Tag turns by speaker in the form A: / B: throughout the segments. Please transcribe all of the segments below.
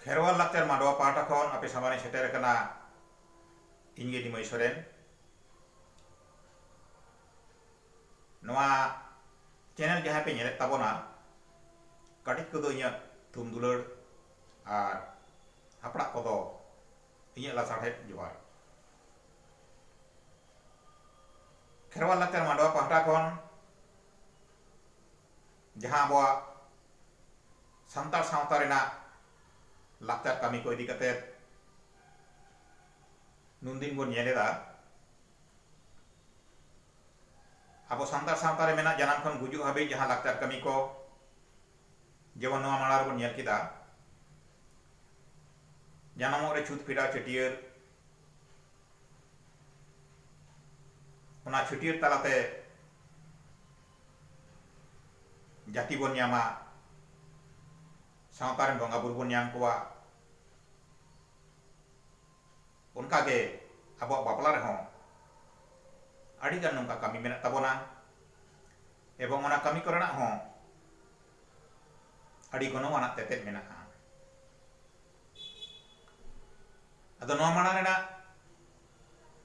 A: ᱠᱷᱮᱨᱣᱟᱞ ᱞᱟᱠᱪᱟᱨ ᱢᱟᱰᱣᱟ ᱯᱟᱦᱴᱟ ᱠᱷᱚᱱ ᱟᱯᱮ ᱥᱟᱢᱟᱝ ᱨᱮᱧ ᱥᱮᱴᱮᱨ ᱟᱠᱟᱱᱟ ᱤᱧ ᱜᱮ ᱱᱤᱢᱟᱹᱭ ᱥᱚᱨᱮᱱ ᱱᱚᱣᱟ ᱪᱮᱱᱮᱞ ᱡᱟᱦᱟᱸᱭ ᱯᱮ ᱧᱮᱞᱮᱫ ᱛᱟᱵᱚᱱᱟ ᱠᱟᱹᱴᱤᱡ ᱠᱚᱫᱚ ᱤᱧᱟᱹᱜ ᱛᱷᱩᱢ ᱫᱩᱞᱟᱹᱲ ᱟᱨ ᱦᱟᱯᱲᱟᱜ ᱠᱚᱫᱚ ᱤᱧᱟᱹᱜ ᱞᱟᱥᱟᱲᱦᱮᱫ ᱡᱚᱦᱟᱨ ᱠᱷᱮᱨᱣᱟᱞ ᱞᱟᱠᱪᱟᱨ ᱢᱟᱰᱣᱟ ᱯᱟᱦᱴᱟ ᱠᱷᱚᱱ ᱡᱟᱦᱟᱸ ᱟᱵᱚᱣᱟᱜ ᱥᱟᱱᱛᱟᱲ ᱥᱟᱶᱛᱟ ᱨᱮᱱᱟᱜ ᱞᱟᱠᱪᱟᱨ ᱠᱟᱹᱢᱤ ᱠᱚ ᱤᱫᱤ ᱠᱟᱛᱮ ᱱᱩᱱ ᱫᱤᱱ ᱵᱚᱱ ᱧᱮᱞ ᱮᱫᱟ ᱟᱵᱚ ᱥᱟᱱᱛᱟᱲ ᱥᱟᱶᱛᱟ ᱨᱮ ᱢᱮᱱᱟᱜ ᱡᱟᱱᱟᱢ ᱠᱷᱚᱱ ᱜᱩᱡᱩᱜ ᱦᱟᱹᱵᱤᱡ ᱡᱟᱦᱟᱸ ᱞᱟᱠᱪᱟᱨ ᱠᱟᱹᱢᱤ ᱠᱚ ᱡᱮᱢᱚᱱ ᱱᱚᱣᱟ ᱢᱟᱲᱟᱝ ᱨᱮᱵᱚᱱ ᱧᱮᱞ ᱠᱮᱫᱟ ᱡᱟᱱᱟᱢᱚᱜ ᱨᱮ ᱪᱷᱩᱛ ᱯᱷᱮᱰᱟᱣ ᱪᱷᱟᱹᱴᱭᱟᱹᱨ ᱚᱱᱟ ᱪᱷᱟᱹᱴᱭᱟᱹᱨ ᱛᱟᱞᱟᱛᱮ ᱡᱟᱹᱛᱤ ᱵᱚᱱ ᱧᱟᱢᱟ ᱥᱟᱶᱛᱟ ᱨᱮᱱ ᱵᱚᱸᱜᱟ ᱵᱩᱨᱩ ᱵᱚᱱ ᱧᱟᱢ ᱠᱚᱣᱟ ᱚᱱᱠᱟ ᱜᱮ ᱟᱵᱚᱣᱟᱜ ᱵᱟᱯᱞᱟ ᱨᱮᱦᱚᱸ ᱟᱹᱰᱤ ᱜᱟᱱ ᱱᱚᱝᱠᱟ ᱠᱟᱹᱢᱤ ᱢᱮᱱᱟᱜ ᱛᱟᱵᱚᱱᱟ ᱮᱵᱚᱝ ᱚᱱᱟ ᱠᱟᱹᱢᱤ ᱠᱚᱨᱮᱱᱟᱜ ᱦᱚᱸ ᱟᱹᱰᱤ ᱜᱚᱱᱚᱝ ᱟᱱᱟᱜ ᱛᱮᱛᱮᱫ ᱢᱮᱱᱟᱜᱼᱟ ᱟᱫᱚ ᱱᱚᱣᱟ ᱢᱟᱲᱟᱝ ᱨᱮᱱᱟᱜ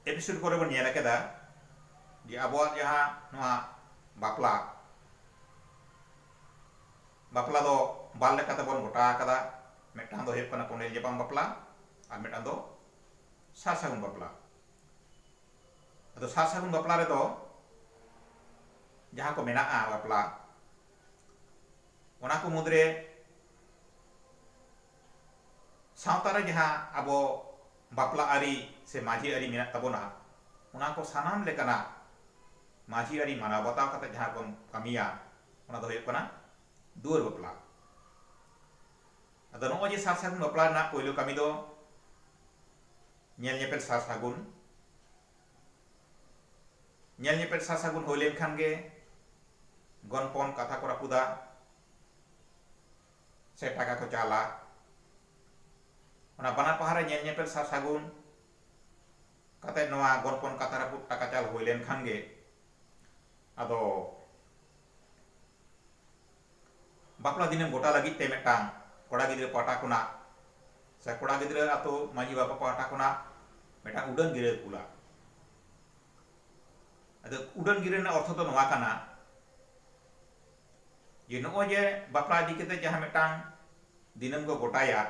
A: ᱮᱯᱤᱥᱳᱰ ᱠᱚᱨᱮ ᱵᱚᱱ ᱧᱮᱞ ᱟᱠᱟᱫᱟ ᱡᱮ ᱟᱵᱚᱣᱟᱜ ᱡᱟᱦᱟᱸ ᱱᱚᱣᱟ ᱵᱟᱯᱞᱟ ᱵᱟᱯᱞᱟ ᱫᱚ ᱵᱟᱨ ᱞᱮᱠᱟᱛᱮ ᱵᱚᱱ ᱜᱚᱴᱟ ᱟᱠᱟᱫᱟ ᱢᱤᱫᱴᱟᱝ ᱫᱚ ᱦᱩᱭᱩᱜ ᱠᱟᱱᱟ ᱠᱚᱸᱰᱮᱞ ᱧᱟᱯᱟᱢ ᱵᱟᱯᱞᱟ ᱟᱨ ᱢᱤᱫᱴᱟᱝ ᱫᱚ ᱥᱟᱨ ᱥᱟᱹᱜᱩᱱ ᱵᱟᱯᱞᱟ ᱟᱫᱚ ᱥᱟᱨ ᱥᱟᱹᱜᱩᱱ ᱵᱟᱯᱞᱟ ᱨᱮᱫᱚ ᱡᱟᱦᱟᱸ ᱠᱚ ᱢᱮᱱᱟᱜᱼᱟ ᱵᱟᱯᱞᱟ ᱚᱱᱟ ᱠᱚ ᱢᱩᱫᱽᱨᱮ ᱥᱟᱶᱛᱟ ᱨᱮ ᱡᱟᱦᱟᱸ ᱟᱵᱚ ᱵᱟᱯᱞᱟ ᱟᱹᱨᱤ ᱥᱮ ᱢᱟᱹᱡᱷᱤ ᱟᱹᱨᱤ ᱢᱮᱱᱟᱜ ᱛᱟᱵᱚᱱᱟ ᱚᱱᱟ ᱠᱚ ᱥᱟᱱᱟᱢ ᱞᱮᱠᱟᱱᱟᱜ ᱢᱟᱹᱡᱷᱤ ᱟᱹᱨᱤ ᱢᱟᱱᱟᱣ ᱵᱟᱛᱟᱣ ᱠᱟᱛᱮ ᱡᱟᱦᱟᱸ ᱵᱚᱱ ᱠᱟᱹᱢᱤᱭᱟ ᱚᱱᱟ ᱫᱚ ᱦᱩᱭᱩᱜ ᱠᱟᱱᱟ ᱫᱩᱣᱟᱹᱨ ᱵᱟᱯᱞᱟ ᱟᱫᱚ ᱱᱚᱜᱼᱚᱭ ᱡᱮ ᱥᱟᱨ ᱥᱟᱹᱜᱩᱱ ᱵᱟᱯᱞᱟ ᱨᱮᱱᱟᱜ ᱯᱳᱭᱞᱳ ᱠᱟᱹᱢᱤ ᱫᱚ ᱧᱮᱞ ᱧᱮᱯᱮᱞ ᱥᱟᱨ ᱥᱟᱹᱜᱩᱱ ᱧᱮᱞ ᱧᱮᱯᱮᱞ ᱥᱟᱨ ᱥᱟᱹᱜᱩᱱ ᱦᱩᱭ ᱞᱮᱱᱠᱷᱟᱱ ᱜᱮ ᱜᱚᱱᱯᱚᱱ ᱠᱟᱛᱷᱟ ᱠᱚ ᱨᱟᱹᱯᱩᱫᱟ ᱥᱮ ᱴᱟᱠᱟ ᱠᱚ ᱪᱟᱞᱟ᱾ ᱚᱱᱟ ᱵᱟᱱᱟᱨ ᱯᱟᱦᱟᱨᱮ ᱧᱮᱞ ᱧᱮᱯᱮᱞ ᱥᱟᱨ ᱥᱟᱹᱜᱩᱱ ᱠᱟᱛᱮ ᱱᱚᱣᱟ ᱜᱚᱱᱯᱚᱱ ᱠᱟᱛᱷᱟ ᱨᱟᱹᱯᱩᱫ ᱴᱟᱠᱟ ᱪᱟᱞ ᱦᱩᱭ ᱞᱮᱱ ᱠᱷᱟᱱ ᱜᱮ ᱟᱫᱚ ᱵᱟᱯᱞᱟ ᱫᱤᱱᱮᱢ ᱜᱚᱴᱟ ᱞᱟᱹᱜᱤᱫ ᱛᱮ ᱢᱤᱫᱴᱟᱝ ᱠᱚᱲᱟ ᱜᱤᱫᱽᱨᱟᱹ ᱯᱟᱦᱴᱟ ᱠᱷᱚᱱᱟᱜ ᱥᱮ ᱠᱚᱲᱟ ᱜᱤᱫᱽᱨᱟᱹ ᱟᱹᱛᱩ ᱢᱟᱹᱡᱷᱤ ᱵᱟᱵᱟ ᱯᱟᱦᱴᱟ ᱠᱷᱚᱱᱟᱜ ᱢᱤᱫᱴᱟᱝ ᱩᱰᱟᱹᱱ ᱜᱤᱨᱟᱹ ᱠᱩᱞᱟ᱾ ᱟᱫᱚ ᱩᱰᱟᱹᱱ ᱜᱤᱨᱟᱹ ᱨᱮᱱᱟᱜ ᱚᱨᱛᱷᱚ ᱫᱚ ᱱᱚᱣᱟ ᱠᱟᱱᱟ, ᱡᱮ ᱱᱚᱜᱼᱚᱭ ᱡᱮ ᱵᱟᱯᱞᱟ ᱤᱫᱤ ᱠᱟᱛᱮ ᱡᱟᱦᱟᱸ ᱢᱤᱫᱴᱟᱝ ᱫᱤᱱᱟᱹᱢ ᱠᱚ ᱜᱚᱴᱟᱭᱟ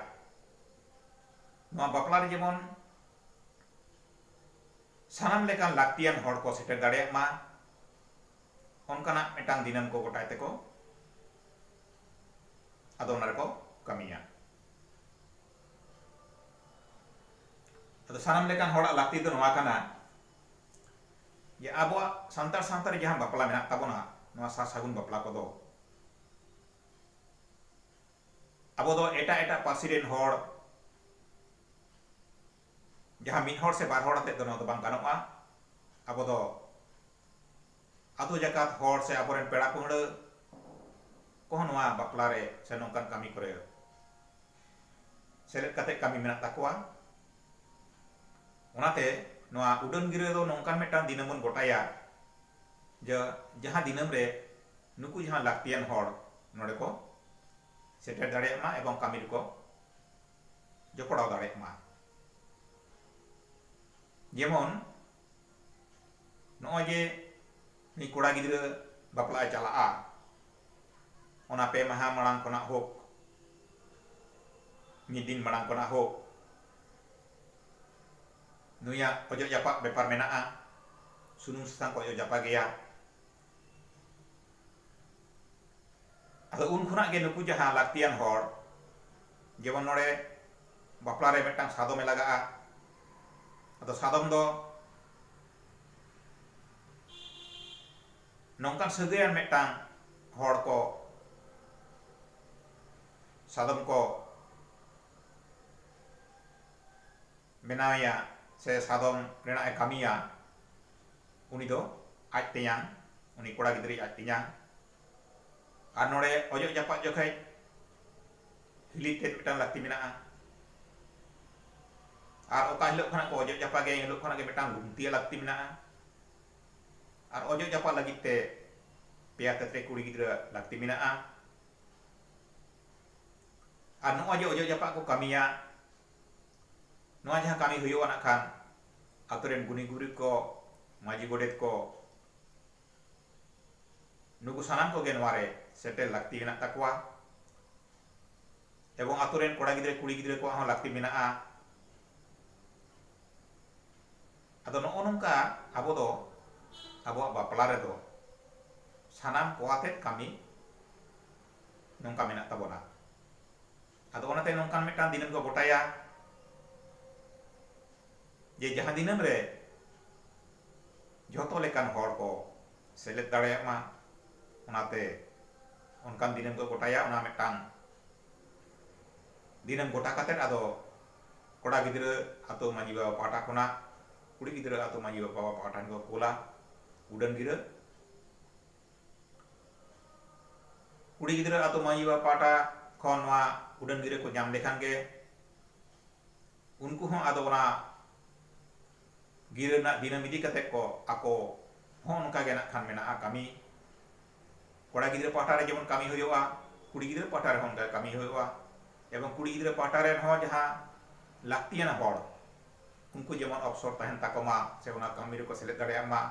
A: ᱱᱚᱣᱟ ᱵᱟᱯᱞᱟ ᱨᱮ ᱡᱮᱢᱚᱱ ᱥᱟᱱᱟᱢ ᱞᱮᱠᱟᱱ ᱞᱟᱹᱠᱛᱤᱭᱟᱱ ᱦᱚᱲ ᱠᱚ ᱥᱮᱴᱮᱨ ᱫᱟᱲᱮᱭᱟᱜ ᱢᱟ ᱚᱱᱠᱟᱱᱟᱜ ᱢᱤᱫᱴᱟᱝ ᱫᱤᱱᱟᱹᱢ ᱠᱚ ᱜᱚᱴᱟᱭ ᱛᱮᱠᱚ ᱟᱫᱚ ᱚᱱᱟ ᱨᱮᱠᱚ ᱠᱟᱹᱢᱤᱭᱟ ᱟᱫᱚ ᱥᱟᱱᱟᱢ ᱞᱮᱠᱟᱱ ᱦᱚᱲᱟᱜ ᱞᱟᱹᱠᱛᱤ ᱫᱚ ᱱᱚᱣᱟ ᱠᱟᱱᱟ ᱡᱮ ᱟᱵᱚᱣᱟᱜ ᱥᱟᱱᱛᱟᱲ ᱥᱟᱶᱛᱟ ᱨᱮ ᱡᱟᱦᱟᱸ ᱵᱟᱯᱞᱟ ᱢᱮᱱᱟᱜ ᱛᱟᱵᱚᱱᱟ ᱱᱚᱣᱟ ᱥᱟᱨ ᱥᱟᱹᱜᱩᱱ ᱵᱟᱯᱞᱟ ᱠᱚᱫᱚ ᱟᱵᱚ ᱫᱚ ᱮᱴᱟᱜ ᱮᱴᱟᱜ ᱯᱟᱹᱨᱥᱤ ᱨᱮᱱ ᱦᱚᱲ ᱡᱟᱦᱟᱸ ᱢᱤᱫ ᱦᱚᱲ ᱥᱮ ᱵᱟᱨ ᱦᱚᱲ ᱟᱛᱮᱫ ᱫᱚ ᱱᱚᱣᱟ ᱫᱚ ᱵᱟᱝ ᱜᱟᱱᱚᱜᱼᱟ ᱟᱵᱚ ᱫᱚ ᱟᱛᱳ ᱡᱟᱠᱟᱛ ᱦᱚᱲ ᱥᱮ ᱟᱵᱚ ᱨᱮᱱ ᱯᱮᱲᱟ ᱯᱟᱹᱦᱲᱟᱹ ᱠᱚᱦᱚᱸ ᱱᱚᱣᱟ ᱵᱟᱯᱞᱟ ᱨᱮ ᱥᱮ ᱱᱚᱝᱠᱟᱱ ᱠᱟᱹᱢᱤ ᱠᱚᱨᱮ ᱥᱮᱞᱮᱫ ᱠᱟᱛᱮ ᱠᱟᱹᱢᱤ ᱢᱮᱱᱟᱜ ᱛᱟᱠᱚᱣᱟ ᱚᱱᱟᱛᱮ ᱱᱚᱣᱟ ᱩᱰᱟᱹᱱ ᱜᱤᱨᱟᱹ ᱫᱚ ᱱᱚᱝᱠᱟᱱ ᱢᱤᱫᱴᱟᱝ ᱫᱤᱱᱟᱹᱢ ᱵᱚᱱ ᱜᱚᱴᱟᱭᱟ ᱡᱮ ᱡᱟᱦᱟᱸ ᱫᱤᱱᱟᱹᱢ ᱨᱮ ᱱᱩᱠᱩ ᱡᱟᱦᱟᱸ ᱞᱟᱹᱠᱛᱤᱭᱟᱱ ᱦᱚᱲ ᱱᱚᱰᱮ ᱠᱚ ᱥᱮᱴᱮᱨ ᱫᱟᱲᱮᱭᱟᱜ ᱢᱟ ᱮᱵᱚᱝ ᱠᱟᱹᱢᱤ ᱨᱮᱠᱚ ᱡᱚᱯᱚᱲᱟᱣ ᱫᱟᱲᱮᱭᱟᱜ ᱢᱟ ᱡᱮᱢᱚᱱ ᱱᱚᱜᱼᱚᱭ ᱡᱮ ᱩᱱᱤ ᱠᱚᱲᱟ ᱜᱤᱫᱽᱨᱟᱹ ᱵᱟᱯᱞᱟᱜ ᱮ ᱪᱟᱞᱟᱜᱼᱟ ᱚᱱᱟ ᱯᱮ ᱢᱟᱦᱟ ᱢᱟᱲᱟᱝ ᱠᱷᱚᱱᱟᱜ ᱦᱳᱠ ᱢᱤᱫ ᱫᱤᱱ ᱢᱟᱲᱟᱝ ᱠᱷᱚᱱᱟᱜ ᱦᱳᱠ ᱱᱩᱭᱟᱜ ᱚᱡᱚᱜ ᱡᱟᱯᱟᱜ ᱵᱮᱯᱟᱨ ᱢᱮᱱᱟᱜᱼᱟ ᱥᱩᱱᱩᱢ ᱥᱟᱥᱟᱝ ᱠᱚ ᱚᱡᱚᱜ ᱡᱟᱯᱟᱜᱮᱭᱟ ᱟᱫᱚ ᱩᱱ ᱠᱷᱚᱱᱟᱜ ᱜᱮ ᱱᱩᱠᱩ ᱡᱟᱦᱟᱸ ᱞᱟᱹᱠᱛᱤᱭᱟᱱ ᱦᱚᱲ ᱡᱮᱢᱚᱱ ᱱᱚᱰᱮ ᱵᱟᱯᱞᱟ ᱨᱮ ᱢᱤᱫᱴᱟᱝ ᱥᱟᱫᱚᱢᱮ ᱞᱟᱜᱟᱜᱼᱟ ᱟᱫᱚ ᱥᱟᱫᱚᱢ ᱫᱚ ᱱᱚᱝᱠᱟᱱ ᱥᱟᱹᱜᱟᱹᱭᱟᱱ ᱢᱤᱫᱴᱟᱝ ᱦᱚᱲ ᱠᱚ ᱥᱟᱫᱚᱢ ᱠᱚ ᱵᱮᱱᱟᱣᱮᱭᱟ ᱥᱮ ᱥᱟᱫᱚᱢ ᱨᱮᱱᱟᱜ ᱮ ᱠᱟᱹᱢᱤᱭᱟ ᱩᱱᱤ ᱫᱚ ᱟᱡ ᱛᱮᱧᱟᱝ ᱩᱱᱤ ᱠᱚᱲᱟ ᱜᱤᱫᱽᱨᱟᱹᱭᱤᱡ ᱟᱡ ᱛᱮᱧᱟᱝ ᱟᱨ ᱱᱚᱰᱮ ᱚᱡᱚᱜ ᱡᱟᱯᱟᱜ ᱡᱚᱠᱷᱮᱡ ᱦᱤᱞᱤ ᱛᱮᱫ ᱢᱤᱫᱴᱟᱝ ᱞᱟᱹᱠᱛᱤ ᱢᱮᱱᱟᱜᱼᱟ ᱟᱨ ᱚᱠᱟ ᱦᱤᱞᱳᱜ ᱠᱷᱚᱱᱟᱜ ᱠᱚ ᱚᱡᱚᱜ ᱡᱟᱯᱟᱜᱮᱭᱟ ᱮᱱ ᱦᱤᱞᱳᱜ ᱠᱷᱚᱱᱟᱜ ᱜᱮ ᱢᱤᱫᱴᱟᱝ ᱞᱩᱝᱛᱤᱭᱟᱜ ᱞᱟᱹᱠᱛᱤ ᱢᱮᱱᱟᱜᱼᱟ ᱟᱨ ᱚᱡᱚᱜ ᱡᱟᱯᱟᱜ ᱞᱟᱹᱜᱤᱫ ᱛᱮ ᱯᱮᱭᱟ ᱠᱟᱹᱛᱨᱮ ᱠᱩᱲᱤ ᱜᱤᱫᱽᱨᱟᱹ ᱞᱟᱹᱠᱛᱤ ᱢᱮᱱᱟᱜᱼᱟ ᱟᱨ ᱱᱚᱜᱼᱚᱭ ᱡᱮ ᱚᱡᱚᱜ ᱡᱟᱯᱟᱜ ᱠᱚ ᱠᱟᱹᱢᱤᱭᱟ ᱱᱚᱣᱟ ᱡᱟᱦᱟᱸ ᱠᱟᱹᱢᱤ ᱦᱩᱭᱩᱜᱼᱟ ᱱᱟᱜ ᱠᱷᱟᱱ ᱟᱛᱳ ᱨᱮᱱ ᱜᱩᱱᱤ ᱜᱩᱨᱤᱵ ᱠᱚ ᱢᱟᱹᱡᱷᱤ ᱜᱚᱰᱮᱛ ᱠᱚ ᱱᱩᱠᱩ ᱥᱟᱱᱟᱢ ᱠᱚᱜᱮ ᱱᱚᱣᱟ ᱨᱮ ᱥᱮᱴᱮᱨ ᱞᱟᱹᱠᱛᱤ ᱢᱮᱱᱟᱜ ᱛᱟᱠᱚᱣᱟ ᱮᱵᱚᱝ ᱟᱛᱳ ᱨᱮᱱ ᱠᱚᱲᱟ ᱜᱤᱫᱽᱨᱟᱹ ᱠᱩᱲᱤ ᱜᱤᱫᱽᱨᱟᱹ ᱠᱚᱣᱟᱜ ᱦᱚᱸ ᱞᱟᱹᱠᱛᱤ ᱢᱮᱱᱟᱜᱼᱟ ᱟᱫᱚ ᱱᱚᱜᱼᱚ ᱱᱚᱝᱠᱟ ᱟᱵᱚ ᱫᱚ ᱟᱵᱚᱣᱟᱜ ᱵᱟᱯᱞᱟ ᱨᱮᱫᱚ ᱥᱟᱱᱟᱢ ᱠᱚ ᱟᱛᱮᱫ ᱠᱟᱹᱢᱤ ᱱᱚᱝᱠᱟ ᱢᱮᱱᱟᱜ ᱛᱟᱵᱚᱱᱟ ᱟᱫᱚ ᱚᱱᱟᱛᱮ ᱱᱚᱝᱠᱟᱱ ᱢᱤᱫᱴᱟᱝ ᱫᱤᱱᱟᱹᱢ ᱠᱚ ᱜᱚᱴᱟᱭᱟ ᱡᱮ ᱡᱟᱦᱟᱸ ᱫᱤᱱᱟᱹᱢ ᱨᱮ ᱡᱷᱚᱛᱚ ᱞᱮᱠᱟᱱ ᱦᱚᱲ ᱠᱚ ᱥᱮᱞᱮᱫ ᱫᱟᱲᱮᱭᱟᱜ ᱢᱟ ᱚᱱᱟᱛᱮ ᱚᱱᱠᱟᱱ ᱫᱤᱱᱟᱹᱢ ᱠᱚ ᱜᱚᱴᱟᱭᱟ ᱚᱱᱟ ᱢᱤᱫᱴᱟᱝ ᱫᱤᱱᱟᱹᱢ ᱜᱚᱴᱟ ᱠᱟᱛᱮᱫ ᱟᱫᱚ ᱠᱚᱲᱟ ᱜᱤᱫᱽᱨᱟᱹ ᱟᱛᱳ ᱢᱟᱺᱡᱷᱤ ᱵᱟᱵᱟ ᱯᱟᱦᱴᱟ ᱠᱷᱚᱱᱟᱜ ᱠᱩᱲᱤ ᱜᱤᱫᱽᱨᱟᱹ ᱟᱛᱳ ᱢᱟᱺᱡᱷᱤ ᱵᱟᱵᱟ ᱯᱟᱦᱴᱟ ᱴᱷᱮᱱ ᱠᱚ ᱠᱳᱞᱟ ᱩᱰᱟᱹᱱ ᱜᱤᱨᱟᱹ ᱠᱩᱲᱤ ᱜᱤᱫᱽᱨᱟᱹ ᱟᱛᱳ ᱢᱟᱹᱡᱷᱤ ᱵᱟᱵᱟ ᱯᱟᱦᱴᱟ ᱠᱷᱚᱱ ᱱᱚᱣᱟ ᱩᱰᱟᱹᱱ ᱜᱤᱨᱟᱹ ᱠᱚ ᱧᱟᱢ ᱞᱮᱠᱷᱟᱱ ᱜᱮ ᱩᱱᱠᱩ ᱦᱚᱸ ᱟᱫᱚ ᱚᱱᱟ ᱜᱤᱨᱟᱹ ᱨᱮᱱᱟᱜ ᱫᱤᱱᱟᱹᱢ ᱤᱫᱤ ᱠᱟᱛᱮ ᱠᱚ ᱟᱠᱚ ᱦᱚᱸ ᱚᱱᱠᱟ ᱜᱮ ᱱᱟᱜ ᱠᱷᱟᱱ ᱢᱮᱱᱟᱜᱼᱟ ᱠᱟᱹᱢᱤ ᱠᱚᱲᱟ ᱜᱤᱫᱽᱨᱟᱹ ᱯᱟᱦᱴᱟ ᱨᱮ ᱡᱮᱢᱚᱱ ᱠᱟᱹᱢᱤ ᱦᱩᱭᱩᱜᱼᱟ ᱠᱩᱲᱤ ᱜᱤᱫᱽᱨᱟᱹ ᱯᱟᱦᱴᱟ ᱨᱮᱦᱚᱸ ᱚᱱᱠᱟ ᱠᱟᱹᱢᱤ ᱦᱩᱭᱩᱜᱼᱟ ᱮᱵᱚᱝ ᱠᱩᱲᱤ ᱜᱤᱫᱽᱨᱟᱹ ᱯᱟᱦᱴᱟ ᱨᱮᱱ ᱦᱚᱸ ᱡᱟᱦᱟᱸ ᱞᱟᱹᱠᱛᱤᱭᱟᱱ ᱦᱚᱲ ᱩᱱᱠᱩ ᱡᱮᱢᱚᱱ ᱚᱯᱥᱚᱨ ᱛᱟᱦᱮᱱ ᱛᱟᱠᱚ ᱢᱟ ᱥᱮ ᱚᱱᱟ ᱠᱟᱹᱢᱤ ᱨᱮᱠᱚ ᱥᱮᱞᱮᱫ ᱫᱟᱲᱮᱭᱟᱜ ᱢᱟ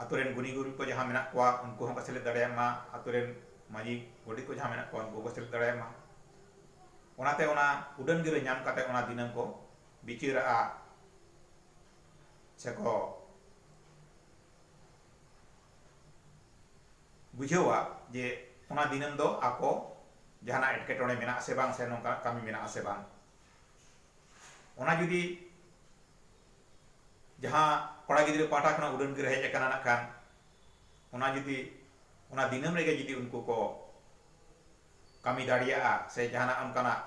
A: ᱟᱹᱛᱩ ᱨᱮᱱ ᱜᱩᱱᱤ ᱜᱩᱨᱤᱵᱽ ᱠᱚ ᱡᱟᱦᱟᱸ ᱢᱮᱱᱟᱜ ᱠᱚᱣᱟ ᱩᱱᱠᱩ ᱦᱚᱸᱠᱚ ᱥᱮᱞᱮᱫ ᱫᱟᱲᱮᱭᱟᱜ ᱢᱟ ᱟᱹᱛᱩ ᱨᱮᱱ ᱢᱟᱹᱡᱷᱤ ᱜᱚᱰᱮᱛ ᱠᱚ ᱡᱟᱦᱟᱸ ᱢᱮᱱᱟᱜ ᱠᱚᱣᱟ ᱩᱱᱠᱩ ᱦᱚᱸᱠᱚ ᱥᱮᱞᱮᱫ ᱫᱟᱲᱮᱭᱟᱜ ᱢᱟ ᱚᱱᱟᱛᱮ ᱚᱱᱟ ᱩᱰᱟᱹᱱ ᱜᱤᱨᱟᱹ ᱧᱟᱢ ᱠᱟᱛᱮᱫ ᱚᱱᱟ ᱫᱤᱱᱟᱹᱢ ᱠᱚ ᱵᱤᱪᱟᱹᱨᱟᱜᱼᱟ ᱥᱮᱠᱚ ᱵᱩᱡᱷᱟᱹᱣᱟ ᱡᱮ ᱚᱱᱟ ᱫᱤᱱᱟᱹᱢ ᱫᱚ ᱟᱠᱚ ᱡᱟᱦᱟᱱᱟᱜ ᱮᱴᱠᱮᱴᱚᱬᱮ ᱢᱮᱱᱟᱜᱼᱟ ᱥᱮ ᱵᱟᱝ ᱥᱮ ᱱᱚᱝᱠᱟᱱᱟᱜ ᱠᱟᱹᱢᱤ ᱢᱮᱱᱟᱜᱼᱟ ᱥᱮ ᱵᱟᱝ ᱚᱱᱟ ᱡᱩᱫᱤ ᱡᱟᱦᱟᱸ ᱠᱚᱲᱟ ᱜᱤᱫᱽᱨᱟᱹ ᱯᱟᱦᱴᱟ ᱠᱷᱚᱱᱟᱜ ᱩᱰᱟᱹᱱ ᱜᱤᱨᱟᱹ ᱦᱮᱡ ᱟᱠᱟᱱᱟ ᱱᱟᱜ ᱠᱷᱟᱱ ᱚᱱᱟ ᱡᱩᱫᱤ ᱚᱱᱟ ᱫᱤᱱᱟᱹᱢ ᱨᱮᱜᱮ ᱡᱩᱫᱤ ᱩᱱᱠᱩ ᱠᱚ ᱠᱟᱹᱢᱤ ᱫᱟᱲᱮᱭᱟᱜᱼᱟ ᱥᱮ ᱡᱟᱦᱟᱱᱟᱜ ᱚᱱᱠᱟᱱᱟᱜ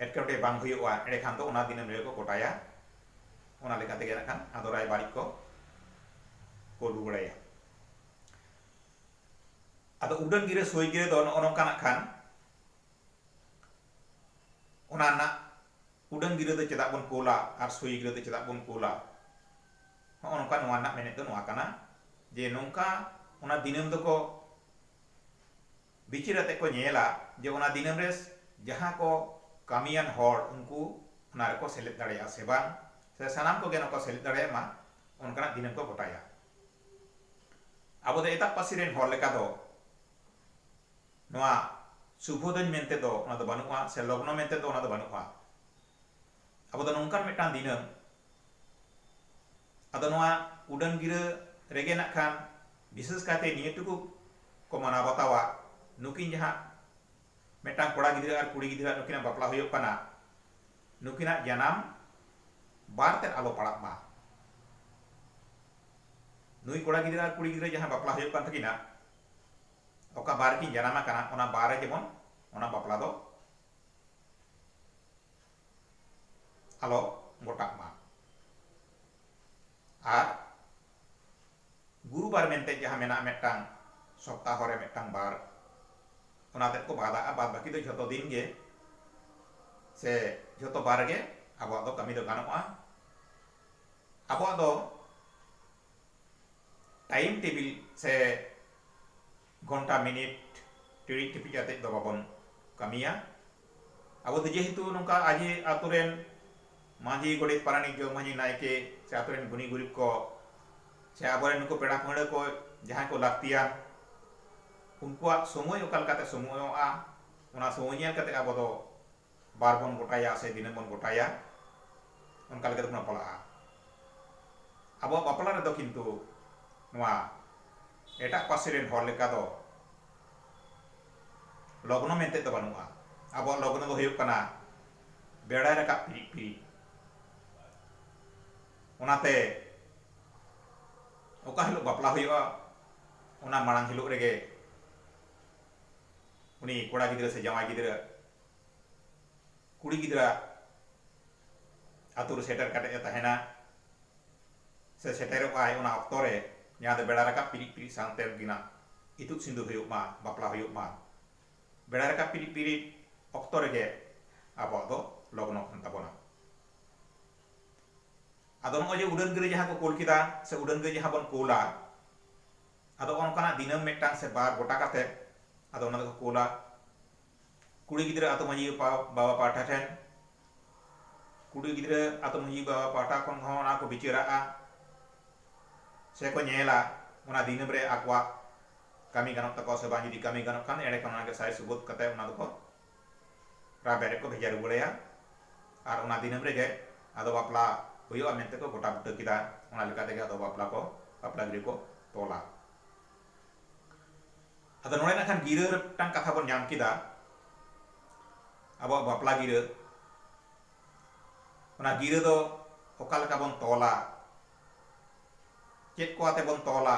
A: ᱮᱴᱠᱮᱴᱚᱬᱮ ᱵᱟᱝ ᱦᱩᱭᱩᱜᱼᱟ ᱮᱸᱰᱮᱠᱷᱟᱱ ᱫᱚ ᱚᱱᱟ ᱫᱤᱱᱟᱹᱢ ᱨᱮᱜᱮ ᱠᱚ ᱜᱚᱴᱟᱭᱟ ᱚᱱᱟ ᱞᱮᱠᱟ ᱛᱮᱜᱮ ᱱᱟᱜ ᱠᱷᱟᱱ ᱟᱫᱚ ᱨᱟᱭᱵᱟᱨᱤᱡ ᱠᱚ ᱠᱚ ᱩᱰᱩᱠ ᱵᱟᱲᱟᱭᱟ ᱟᱫᱚ ᱩᱰᱟᱹᱱ ᱜᱤᱨᱟᱹ ᱥᱳᱭ ᱜᱤᱨᱟᱹ ᱫᱚ ᱱᱚᱜᱼᱚ ᱱᱚᱝᱠᱟ ᱱᱟᱜ ᱠᱷᱟᱱ ᱚᱱᱟ ᱨᱮᱱᱟᱜ ᱩᱰᱟᱹᱱ ᱜᱤᱨᱟᱹ ᱫᱚ ᱪᱮᱫᱟᱜ ᱵᱚᱱ ᱠᱳᱞᱟ ᱟᱨ ᱥᱳᱭ ᱜᱤᱨᱟᱹ ᱫᱚ ᱪᱮᱫᱟᱜ ᱵᱚᱱ ᱠᱳᱞᱟ ᱦᱚᱸᱜᱼᱚ ᱱᱚᱝᱠᱟ ᱱᱚᱣᱟ ᱨᱮᱱᱟᱜ ᱢᱮᱱᱮᱫ ᱫᱚ ᱱᱚᱣᱟ ᱠᱟᱱᱟ ᱡᱮ ᱱᱚᱝᱠᱟ ᱚᱱᱟ ᱫᱤᱱᱟᱹᱢ ᱫᱚᱠᱚ ᱵᱤᱪᱟᱹᱨ ᱟᱛᱮ ᱠᱚ ᱧᱮᱞᱟ ᱡᱮ ᱚᱱᱟ ᱫᱤᱱᱟᱹᱢ ᱨᱮ ᱡᱟᱦᱟᱸ ᱠᱚ ᱠᱟᱹᱢᱤᱭᱟᱱ ᱦᱚᱲ ᱩᱱᱠᱩ ᱚᱱᱟ ᱨᱮᱠᱚ ᱥᱮᱞᱮᱫ ᱫᱟᱲᱮᱭᱟᱜᱼᱟ ᱥᱮ ᱵᱟᱝ ᱥᱮ ᱥᱟᱱᱟᱢ ᱠᱚᱜᱮ ᱱᱚᱠᱚ ᱥᱮᱞᱮᱫ ᱫᱟᱲᱮᱭᱟᱜ ᱢᱟ ᱚᱱᱠᱟᱱᱟᱜ ᱫᱤᱱᱟᱹᱢ ᱠᱚ ᱜᱚᱴᱟᱭᱟ ᱟᱵᱚ ᱫᱚ ᱮᱴᱟᱜ ᱯᱟᱹᱨᱥᱤ ᱨᱮᱱ ᱦᱚᱲ ᱞᱮᱠᱟ ᱫᱚ ᱱᱚᱣᱟ ᱥᱩᱵᱷᱚ ᱫᱚᱧ ᱢᱮᱱᱛᱮ ᱫᱚ ᱚᱱᱟ ᱫᱚ ᱵᱟᱹᱱᱩᱜᱼᱟ ᱥᱮ ᱞᱚᱜᱽᱱᱚ ᱢᱮᱱᱛᱮ ᱫᱚ ᱚᱱᱟ ᱫᱚ ᱵᱟᱹᱱᱩᱜᱼᱟ᱾ ᱟᱵᱚ ᱫᱚ ᱱᱚᱝᱠᱟᱱ ᱢᱤᱫᱴᱟᱝ ᱫᱤᱱᱟᱹᱢ ᱟᱫᱚ ᱱᱚᱣᱟ ᱩᱰᱟᱹᱱ ᱜᱤᱨᱟᱹ ᱨᱮᱜᱮ ᱱᱟᱜ ᱠᱷᱟᱱ ᱵᱤᱥᱮᱥ ᱠᱟᱭᱛᱮ ᱱᱤᱭᱟᱹ ᱴᱩᱠᱩ ᱠᱚ ᱢᱟᱱᱟᱣ ᱵᱟᱛᱟᱣᱟ ᱱᱩᱠᱤᱱ ᱡᱟᱦᱟᱸ ᱢᱤᱫᱴᱟᱝ ᱠᱚᱲᱟ ᱜᱤᱫᱽᱨᱟᱹ ᱟᱨ ᱠᱩᱲᱤ ᱜᱤᱫᱽᱨᱟᱹ ᱟᱜ ᱱᱩᱠᱤᱱᱟᱜ ᱵᱟᱯᱞᱟ ᱦᱩᱭᱩᱜ ᱠᱟᱱᱟ ᱱᱩᱠᱤᱱᱟᱜ ᱡᱟᱱᱟᱢ ᱵᱟᱨ ᱛᱮᱫ ᱟᱞᱚ ᱯᱟᱲᱟᱜ ᱢᱟ᱾ ᱱᱩᱭ ᱠᱚᱲᱟ ᱜᱤᱫᱽᱨᱟᱹ ᱟᱨ ᱠᱩᱲᱤ ᱜᱤᱫᱽᱨᱟᱹ ᱡᱟᱦᱟᱸ ᱵᱟᱯᱞᱟ ᱦᱩᱭᱩᱜ ᱠᱟᱱ ᱛᱟᱹᱠᱤᱱᱟ᱾ ᱚᱠᱟ ᱵᱟᱨ ᱨᱮᱠᱤᱱ ᱡᱟᱱᱟᱢ ᱟᱠᱟᱱᱟ ᱚᱱᱟ ᱵᱟᱨ ᱨᱮ ᱡᱮᱢᱚᱱ ᱚᱱᱟ ᱵᱟᱯᱞᱟ ᱫᱚ ᱟᱞᱚ ᱜᱚᱴᱟᱜ ᱢᱟ ᱟᱨ ᱜᱩᱨᱩ ᱵᱟᱨ ᱢᱮᱱᱛᱮ ᱡᱟᱦᱟᱸ ᱢᱮᱱᱟᱜᱼᱟ ᱢᱤᱫᱴᱟᱝ ᱥᱚᱯᱛᱟᱦᱚ ᱨᱮ ᱢᱤᱫᱴᱟᱝ ᱵᱟᱨ ᱚᱱᱟ ᱛᱮᱫ ᱠᱚ ᱵᱟᱫᱟᱜᱼᱟ ᱵᱟᱫ ᱵᱟᱹᱠᱤ ᱫᱚ ᱡᱷᱚᱛᱚ ᱫᱤᱱ ᱜᱮ ᱥᱮ ᱡᱷᱚᱛᱚ ᱵᱟᱨ ᱨᱮᱜᱮ ᱟᱵᱚᱣᱟᱜ ᱫᱚ ᱠᱟᱹᱢᱤ ᱫᱚ ᱜᱟᱱᱚᱜᱼᱟ ᱟᱵᱚᱣᱟᱜ ᱫᱚ ᱴᱟᱭᱤᱢ ᱴᱮᱵᱤᱞ ᱥᱮ ᱜᱷᱚᱱᱴᱟ ᱢᱤᱱᱤᱴ ᱴᱤᱲᱤᱡ ᱴᱤᱯᱤᱡ ᱟᱛᱮᱫ ᱫᱚ ᱵᱟᱵᱚᱱ ᱠᱟᱹᱢᱤᱭᱟ ᱟᱵᱚ ᱫᱚ ᱡᱮᱦᱮᱛᱩ ᱱᱚᱝᱠᱟ ᱟᱡᱮ ᱟᱛᱳ ᱨᱮᱱ ᱢᱟᱺᱡᱷᱤ ᱜᱚᱰᱮᱛ ᱯᱟᱨᱟᱱᱤᱠ ᱡᱚᱜᱽ ᱢᱟᱺᱡᱷᱤ ᱱᱟᱭᱠᱮ ᱥᱮ ᱟᱛᱳ ᱨᱮᱱ ᱜᱩᱱᱤ ᱜᱩᱨᱤᱵ ᱠᱚ ᱥᱮ ᱟᱵᱚᱨᱮᱱ ᱱᱩᱠᱩ ᱯᱮᱲᱟ ᱯᱟᱹᱦᱲᱟᱹ ᱠᱚ ᱡᱟᱦᱟᱸᱭ ᱠᱚ ᱞᱟᱹᱠᱛᱤᱭᱟᱱ ᱩᱱᱠᱩᱣᱟᱜ ᱥᱚᱢᱚᱭ ᱚᱠᱟ ᱞᱮᱠᱟᱛᱮ ᱥᱚᱢᱚᱭᱚᱜᱼᱟ ᱚᱱᱟ ᱥᱚᱢᱚᱭ ᱧᱮᱞ ᱠᱟᱛᱮᱫ ᱟᱵᱚ ᱫᱚ ᱵᱟᱨ ᱵᱚᱱ ᱜᱚᱴᱟᱭᱟ ᱥᱮ ᱫᱤᱱᱟᱹᱢ ᱵᱚᱱ ᱜᱚᱴᱟᱭᱟ ᱚᱱᱠᱟ ᱞᱮᱠᱟ ᱛᱮᱵᱚᱱ ᱵᱟᱯᱞᱟᱜᱼᱟ ᱟᱵᱚᱣᱟᱜ ᱵᱟᱯᱞᱟ ᱨᱮᱫᱚ ᱠᱤᱱᱛᱩ ᱱᱚᱣᱟ ᱮᱴᱟᱜ ᱯᱟᱹᱨᱥᱤ ᱨᱮᱱ ᱦᱚᱲ ᱞᱮᱠᱟ ᱫᱚ ᱞᱚᱜᱽᱱᱚ ᱢᱮᱱᱛᱮ ᱫᱚ ᱵᱟᱹᱱᱩᱜᱼᱟ ᱟᱵᱚᱣᱟᱜ ᱞᱚᱜᱽᱱᱚ ᱫᱚ ᱦᱩᱭᱩᱜ ᱠᱟᱱᱟ ᱵᱮᱲᱟᱭ ᱨᱟᱠᱟᱵ ᱯᱤᱨᱤᱡ ᱯᱤᱨᱤᱡ ᱚᱱᱟᱛᱮ ᱚᱠᱟ ᱦᱤᱞᱳᱜ ᱵᱟᱯᱞᱟ ᱦᱩᱭᱩᱜᱼᱟ ᱚᱱᱟ ᱢᱟᱲᱟᱝ ᱦᱤᱞᱳᱜ ᱨᱮᱜᱮ ᱩᱱᱤ ᱠᱚᱲᱟ ᱜᱤᱫᱽᱨᱟᱹ ᱥᱮ ᱡᱟᱶᱟᱭ ᱜᱤᱫᱽᱨᱟᱹ ᱠᱩᱲᱤ ᱜᱤᱫᱽᱨᱟᱹ ᱟᱛᱳ ᱨᱮ ᱥᱮᱴᱮᱨ ᱠᱟᱛᱮ ᱮ ᱛᱟᱦᱮᱱᱟ ᱥᱮ ᱥᱮᱴᱮᱨᱚᱜ ᱟᱭ ᱚᱱᱟ ᱚᱠᱛᱚ ᱨᱮ ᱡᱟᱦᱟᱸ ᱫᱚ ᱵᱮᱲᱟ ᱨᱟᱠᱟᱵ ᱯᱤᱨᱤᱡ ᱯᱤᱨᱤᱡ ᱥᱟᱶᱛᱮ ᱩᱱᱠᱤᱱᱟᱜ ᱤᱛᱩᱫ ᱥᱤᱸᱫᱩᱨ ᱦᱩᱭᱩᱜ ᱢᱟ ᱵᱟᱯᱞᱟ ᱦᱩᱭᱩᱜ ᱢᱟ ᱵᱮᱲᱟ ᱨᱟᱠᱟᱵ ᱯᱤᱨᱤᱡ ᱯᱤᱨᱤᱡ ᱚᱠᱛᱚ ᱨᱮᱜᱮ ᱟᱵᱚᱣᱟᱜ ᱫᱚ ᱞᱚᱜᱽᱱᱚ ᱠᱟᱱ ᱛᱟᱵᱚᱱᱟ ᱟᱫᱚ ᱱᱚᱜᱼᱚᱭ ᱡᱮ ᱩᱰᱟᱹᱱ ᱜᱟᱹᱰᱤ ᱡᱟᱦᱟᱸ ᱠᱚ ᱠᱳᱞ ᱠᱮᱫᱟ ᱥᱮ ᱩᱰᱟᱹᱱ ᱜᱟᱹᱰᱤ ᱡᱟᱦᱟᱸ ᱵᱚᱱ ᱠᱳᱞᱟ ᱟᱫᱚ ᱚᱱᱠᱟᱱᱟᱜ ᱫᱤᱱᱟᱹᱢ ᱢᱤᱫᱴᱟᱝ ᱥᱮ ᱵᱟᱨ ᱜᱚᱴᱟ ᱠᱟᱛᱮ ᱟᱫᱚ ᱚᱱᱟ ᱫᱚᱠᱚ ᱠᱩᱞᱟ ᱠᱩᱲᱤ ᱜᱤᱫᱽᱨᱟᱹ ᱟᱛᱳ ᱢᱟᱺᱡᱷᱤ ᱵᱟᱵᱟ ᱯᱟᱦᱴᱟ ᱴᱷᱮᱱ᱾ ᱠᱩᱲᱤ ᱜᱤᱫᱽᱨᱟᱹ ᱟᱛᱳ ᱢᱟᱺᱡᱷᱤ ᱵᱟᱵᱟ ᱯᱟᱦᱴᱟ ᱠᱷᱚᱱ ᱦᱚᱸ ᱚᱱᱟ ᱠᱚ ᱵᱤᱪᱟᱹᱨᱟᱜᱼᱟ ᱥᱮ ᱠᱚ ᱧᱮᱞᱟ ᱚᱱᱟ ᱫᱤᱱᱟᱹᱢ ᱨᱮ ᱟᱠᱚᱣᱟᱜ ᱠᱟᱹᱢᱤ ᱜᱟᱱᱚᱜ ᱛᱟᱠᱚᱣᱟ ᱥᱮ ᱵᱟᱝ᱾ ᱡᱩᱫᱤ ᱠᱟᱹᱢᱤ ᱜᱟᱱᱚᱜ ᱠᱷᱟᱱ ᱮᱸᱰᱮᱠᱷᱟᱱ ᱚᱱᱟ ᱜᱮ ᱥᱟᱭ ᱥᱩᱵᱩᱫ ᱠᱟᱛᱮ ᱚᱱᱟ ᱫᱚᱠᱚ ᱨᱟᱵᱮ ᱨᱮᱠᱚ ᱵᱷᱮᱡᱟ ᱨᱩᱣᱟᱹᱲ ᱟᱭᱟ ᱟᱨ ᱚᱱᱟ ᱫᱤᱱᱟᱹᱢ ᱨᱮᱜᱮ ᱟᱫᱚ ᱵᱟᱯᱞᱟ ᱦᱩᱭᱩᱜᱼᱟ ᱢᱮᱱᱛᱮ ᱠᱚ ᱜᱚᱴᱟ ᱵᱩᱴᱟᱹ ᱠᱮᱫᱟ᱾ ᱚᱱᱟ ᱞᱮᱠᱟ ᱛᱮᱜᱮ ᱟᱫᱚ ᱵᱟᱯᱞᱟ ᱠᱚ ᱵᱟᱯᱞᱟ ᱜᱤᱨᱟᱹ ᱠᱚ ᱛᱚᱞᱟ᱾ ᱟᱫᱚ ᱱᱚᱰᱮ ᱱᱟᱜ ᱠᱷᱟᱱ ᱜᱤᱨᱟᱹ ᱨᱮ ᱢᱤᱫᱴᱟᱝ ᱠᱟᱛᱷᱟ ᱵᱚᱱ ᱧᱟᱢ ᱠᱮᱫᱟ ᱟᱵᱚᱣᱟᱜ ᱵᱟᱯᱞᱟ ᱜᱤᱨᱟᱹ ᱚᱱᱟ ᱜᱤᱨᱟᱹ ᱫᱚ ᱚᱠᱟ ᱞᱮᱠᱟ ᱵᱚᱱ ᱛᱚᱞᱟ ᱪᱮᱫ ᱠᱚ ᱟᱛᱮ ᱵᱚᱱ ᱛᱚᱞᱟ᱾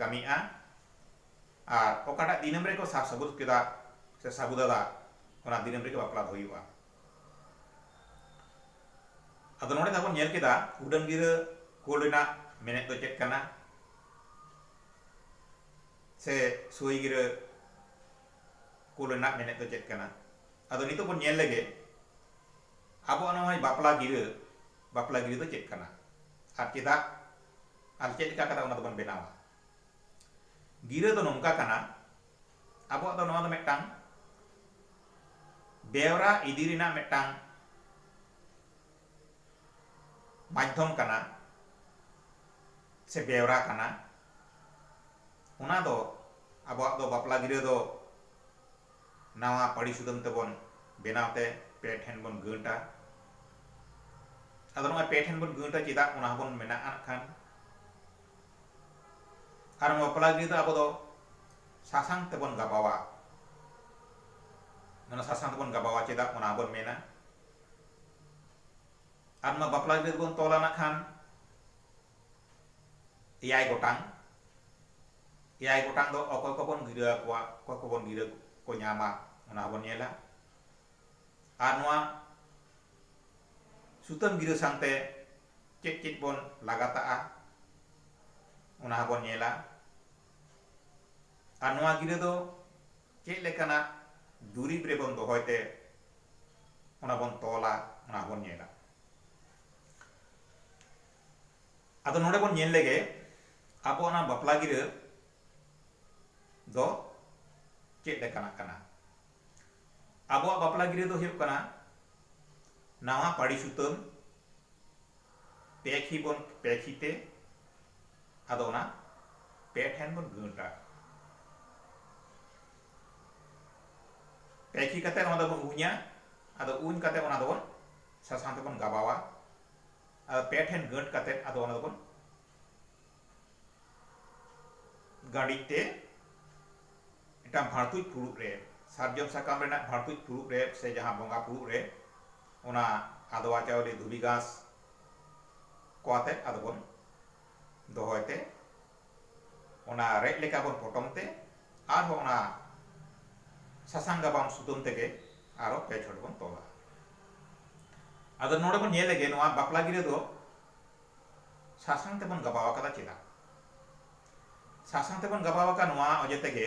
A: ᱠᱟᱹᱢᱤᱜᱼᱟ ᱟᱨ ᱚᱠᱟᱴᱟᱜ ᱫᱤᱱᱟᱹᱢ ᱨᱮᱠᱚ ᱥᱟᱨ ᱥᱟᱹᱵᱩᱫ ᱠᱮᱫᱟ ᱥᱮ ᱥᱟᱹᱵᱩᱫᱟᱫᱟ ᱚᱱᱟ ᱫᱤᱱᱟᱹᱢ ᱨᱮᱜᱮ ᱵᱟᱯᱞᱟ ᱫᱚ ᱦᱩᱭᱩᱜᱼᱟ ᱟᱫᱚ ᱱᱚᱰᱮ ᱫᱚᱵᱚᱱ ᱧᱮᱞ ᱠᱮᱫᱟ ᱩᱰᱟᱹᱱ ᱜᱤᱨᱟᱹ ᱠᱳᱞ ᱨᱮᱱᱟᱜ ᱢᱮᱱᱮᱫ ᱫᱚ ᱪᱮᱫ ᱠᱟᱱᱟ ᱥᱮ ᱥᱳᱭ ᱜᱤᱨᱟᱹ ᱠᱳᱞ ᱨᱮᱱᱟᱜ ᱢᱮᱱᱮᱫ ᱫᱚ ᱪᱮᱫ ᱠᱟᱱᱟ ᱟᱫᱚ ᱱᱤᱛᱚᱜ ᱵᱚᱱ ᱧᱮᱞ ᱞᱮᱜᱮ ᱟᱵᱚᱣᱟᱜ ᱱᱚᱜᱼᱚᱭ ᱵᱟᱯᱞᱟ ᱜᱤᱨᱟᱹ ᱵᱟᱯᱞᱟ ᱜᱤᱨᱟᱹ ᱫᱚ ᱪᱮᱫ ᱠᱟᱱᱟ ᱟᱨ ᱪᱮᱫᱟᱜ ᱟᱨ ᱪᱮᱫ ᱞᱮᱠᱟ ᱠᱟᱛᱮ ᱚᱱᱟ ᱫᱚᱵᱚᱱ ᱵᱮᱱᱟᱣᱟ ᱜᱤᱨᱟᱹ ᱫᱚ ᱱᱚᱝᱠᱟ ᱠᱟᱱᱟ ᱟᱵᱚᱣᱟᱜ ᱫᱚ ᱱᱚᱣᱟ ᱫᱚ ᱢᱤᱫᱴᱟᱝ ᱵᱮᱣᱨᱟ ᱤᱫᱤ ᱨᱮᱱᱟᱜ ᱢᱤᱫᱴᱟᱝ ᱢᱟᱫᱽᱫᱷᱚᱢ ᱠᱟᱱᱟ ᱥᱮ ᱵᱮᱣᱨᱟ ᱠᱟᱱᱟ ᱚᱱᱟ ᱫᱚ ᱟᱵᱚᱣᱟᱜ ᱫᱚ ᱵᱟᱯᱞᱟ ᱜᱤᱨᱟᱹ ᱫᱚ ᱱᱟᱣᱟ ᱯᱟᱹᱲᱤ ᱥᱩᱫᱟᱹᱢ ᱛᱮᱵᱚᱱ ᱵᱮᱱᱟᱣ ᱛᱮ ᱯᱮ ᱴᱷᱮᱱ ᱵᱚᱱ ᱜᱟᱹᱴᱼᱟ᱾ ᱟᱫᱚ ᱱᱚᱜᱼᱚᱭ ᱯᱮ ᱴᱷᱮᱱ ᱵᱚᱱ ᱜᱟᱹᱴᱼᱟ ᱪᱮᱫᱟᱜ ᱚᱱᱟ ᱦᱚᱸᱵᱚᱱ ᱢᱮᱱᱟᱜᱼᱟ ᱱᱟᱜ ᱠᱷᱟᱱ᱾ ᱟᱨ ᱱᱚᱣᱟ ᱵᱟᱯᱞᱟ ᱜᱤᱨᱟᱹ ᱫᱚ ᱟᱵᱚ ᱫᱚ ᱥᱟᱥᱟᱝ ᱛᱮᱵᱚᱱ ᱜᱟᱵᱟᱣᱟ᱾ ᱚᱱᱟ ᱥᱟᱥᱟᱝ ᱛᱮᱵᱚᱱ ᱜᱟᱵᱟᱣᱟ ᱪᱮᱫᱟᱜ ᱚᱱᱟ ᱦᱚᱸᱵᱚᱱ ᱢᱮᱱᱟ᱾ ᱟᱨ ᱱᱚᱣᱟ ᱵᱟᱯᱞᱟ ᱜᱤᱨᱟᱹ ᱫᱚᱵᱚᱱ ᱛᱚᱞᱟ ᱱᱟᱜ ᱠᱷᱟᱱ ᱮᱭᱟᱭ ᱜᱚᱴᱟᱝ, ᱮᱭᱟᱭ ᱜᱚᱴᱟᱝ ᱫᱚ ᱚᱠᱚᱭ ᱠᱚᱵᱚᱱ ᱜᱤᱨᱟᱹ ᱟᱠᱚᱣᱟ, ᱚᱠᱚᱭ ᱠᱚᱵᱚᱱ ᱜᱤᱨᱟᱹ ᱠᱚ ᱧᱟᱢᱟ ᱚᱱᱟ ᱦᱚᱸᱵᱚᱱ ᱧᱮᱞᱟ᱾ ᱟᱨ ᱱᱚᱣᱟ ᱥᱩᱛᱟᱹᱢ ᱜᱤᱨᱟᱹ ᱥᱟᱝᱛᱮ ᱪᱮᱫ ᱪᱮᱫ ᱵᱚᱱ ᱞᱟᱜᱟᱛᱟᱜᱼᱟ ᱚᱱᱟ ᱦᱚᱸᱵᱚᱱ ᱧᱮᱞᱟ᱾ ᱟᱨ ᱱᱚᱣᱟ ᱜᱤᱨᱟᱹ ᱫᱚ ᱪᱮᱫ ᱞᱮᱠᱟᱱᱟᱜ ᱫᱩᱨᱤᱵᱽ ᱨᱮᱵᱚᱱ ᱫᱚᱦᱚᱭ ᱛᱮ ᱚᱱᱟ ᱵᱚᱱ ᱛᱚᱞᱟ ᱚᱱᱟ ᱦᱚᱸᱵᱚᱱ ᱧᱮᱞᱟ᱾ ᱟᱫᱚ ᱱᱚᱰᱮ ᱵᱚᱱ ᱧᱮᱞ ᱞᱮᱜᱮ ᱟᱵᱚᱣᱟᱜ ᱱᱚᱣᱟ ᱵᱟᱯᱞᱟ ᱜᱤᱨᱟᱹ ᱫᱚ ᱪᱮᱫ ᱞᱮᱠᱟᱱᱟᱜ ᱠᱟᱱᱟ ᱟᱵᱚᱣᱟᱜ ᱵᱟᱯᱞᱟ ᱜᱤᱨᱟᱹ ᱫᱚ ᱦᱩᱭᱩᱜ ᱠᱟᱱᱟ ᱱᱟᱣᱟ ᱯᱟᱹᱲᱤ ᱥᱩᱛᱟᱹᱢ ᱯᱮ ᱠᱷᱤ ᱵᱚᱱ ᱯᱮ ᱠᱷᱤᱛᱮ ᱟᱫᱚ ᱚᱱᱟ ᱯᱮ ᱴᱷᱮᱱ ᱵᱚᱱ ᱜᱟᱹᱴᱟ ᱯᱮ ᱠᱷᱤ ᱠᱟᱛᱮ ᱚᱱᱟ ᱫᱚᱵᱚᱱ ᱩᱧᱟ ᱟᱫᱚ ᱩᱧ ᱠᱟᱛᱮ ᱚᱱᱟ ᱫᱚᱵᱚᱱ ᱥᱟᱥᱟᱝ ᱛᱮᱵᱚᱱ ᱜᱟᱵᱟᱣᱟ ᱟᱫᱚ ᱯᱮ ᱴᱷᱮᱱ ᱜᱟᱹᱴ ᱠᱟᱛᱮ ᱟᱫᱚ ᱚᱱᱟ ᱫᱚᱵᱚᱱ ᱜᱟᱹᱰᱤᱡ ᱛᱮ ᱢᱤᱫᱴᱟᱝ ᱵᱷᱟᱲᱛᱩᱡ ᱯᱷᱩᱲᱩᱜ ᱨᱮ ᱥᱟᱨᱡᱚᱢ ᱥᱟᱠᱟᱢ ᱨᱮᱱᱟᱜ ᱵᱷᱟᱲᱛᱩᱡ ᱯᱷᱩᱲᱩᱜ ᱨᱮ ᱥᱮ ᱡᱟᱦᱟᱸ ᱵᱚᱸᱜᱟ ᱯᱷᱩᱲᱩᱜ ᱨᱮ ᱚᱱᱟ ᱟᱫᱣᱟ ᱪᱟᱣᱞᱮ ᱫᱷᱩᱵᱤ ᱜᱷᱟᱸᱥ ᱠᱚ ᱟᱛᱮ ᱟᱫᱚ ᱵᱚᱱ ᱫᱚᱦᱚᱭ ᱛᱮ ᱚᱱᱟ ᱨᱮᱫ ᱞᱮᱠᱟ ᱵᱚᱱ ᱯᱚᱴᱚᱢ ᱛᱮ ᱟᱨ ᱦᱚᱸ ᱚᱱᱟ ᱥᱟᱥᱟᱝ ᱜᱟᱵᱟᱢ ᱥᱩᱛᱟᱹᱢ ᱛᱮᱜᱮ ᱟᱨ ᱦᱚᱸ ᱯᱮ ᱪᱷᱚᱴ ᱵᱚᱱ ᱛᱚᱞᱟ ᱟᱫᱚ ᱱᱚᱰᱮ ᱵᱚᱱ ᱧᱮᱞ ᱞᱮᱜᱮ ᱱᱚᱣᱟ ᱵᱟᱯᱞᱟ ᱜᱤᱨᱟᱹ ᱫᱚ ᱥᱟᱥᱟᱝ ᱛᱮᱵᱚᱱ ᱜᱟᱵᱟᱣ ᱟᱠᱟᱫᱟ ᱪᱮᱫᱟᱜ ᱥᱟᱥᱟᱝ ᱛᱮᱵᱚᱱ ᱜᱟᱵᱟᱣ ᱟᱠᱟᱫ ᱱᱚᱣᱟ ᱚᱡᱮ ᱛᱮᱜᱮ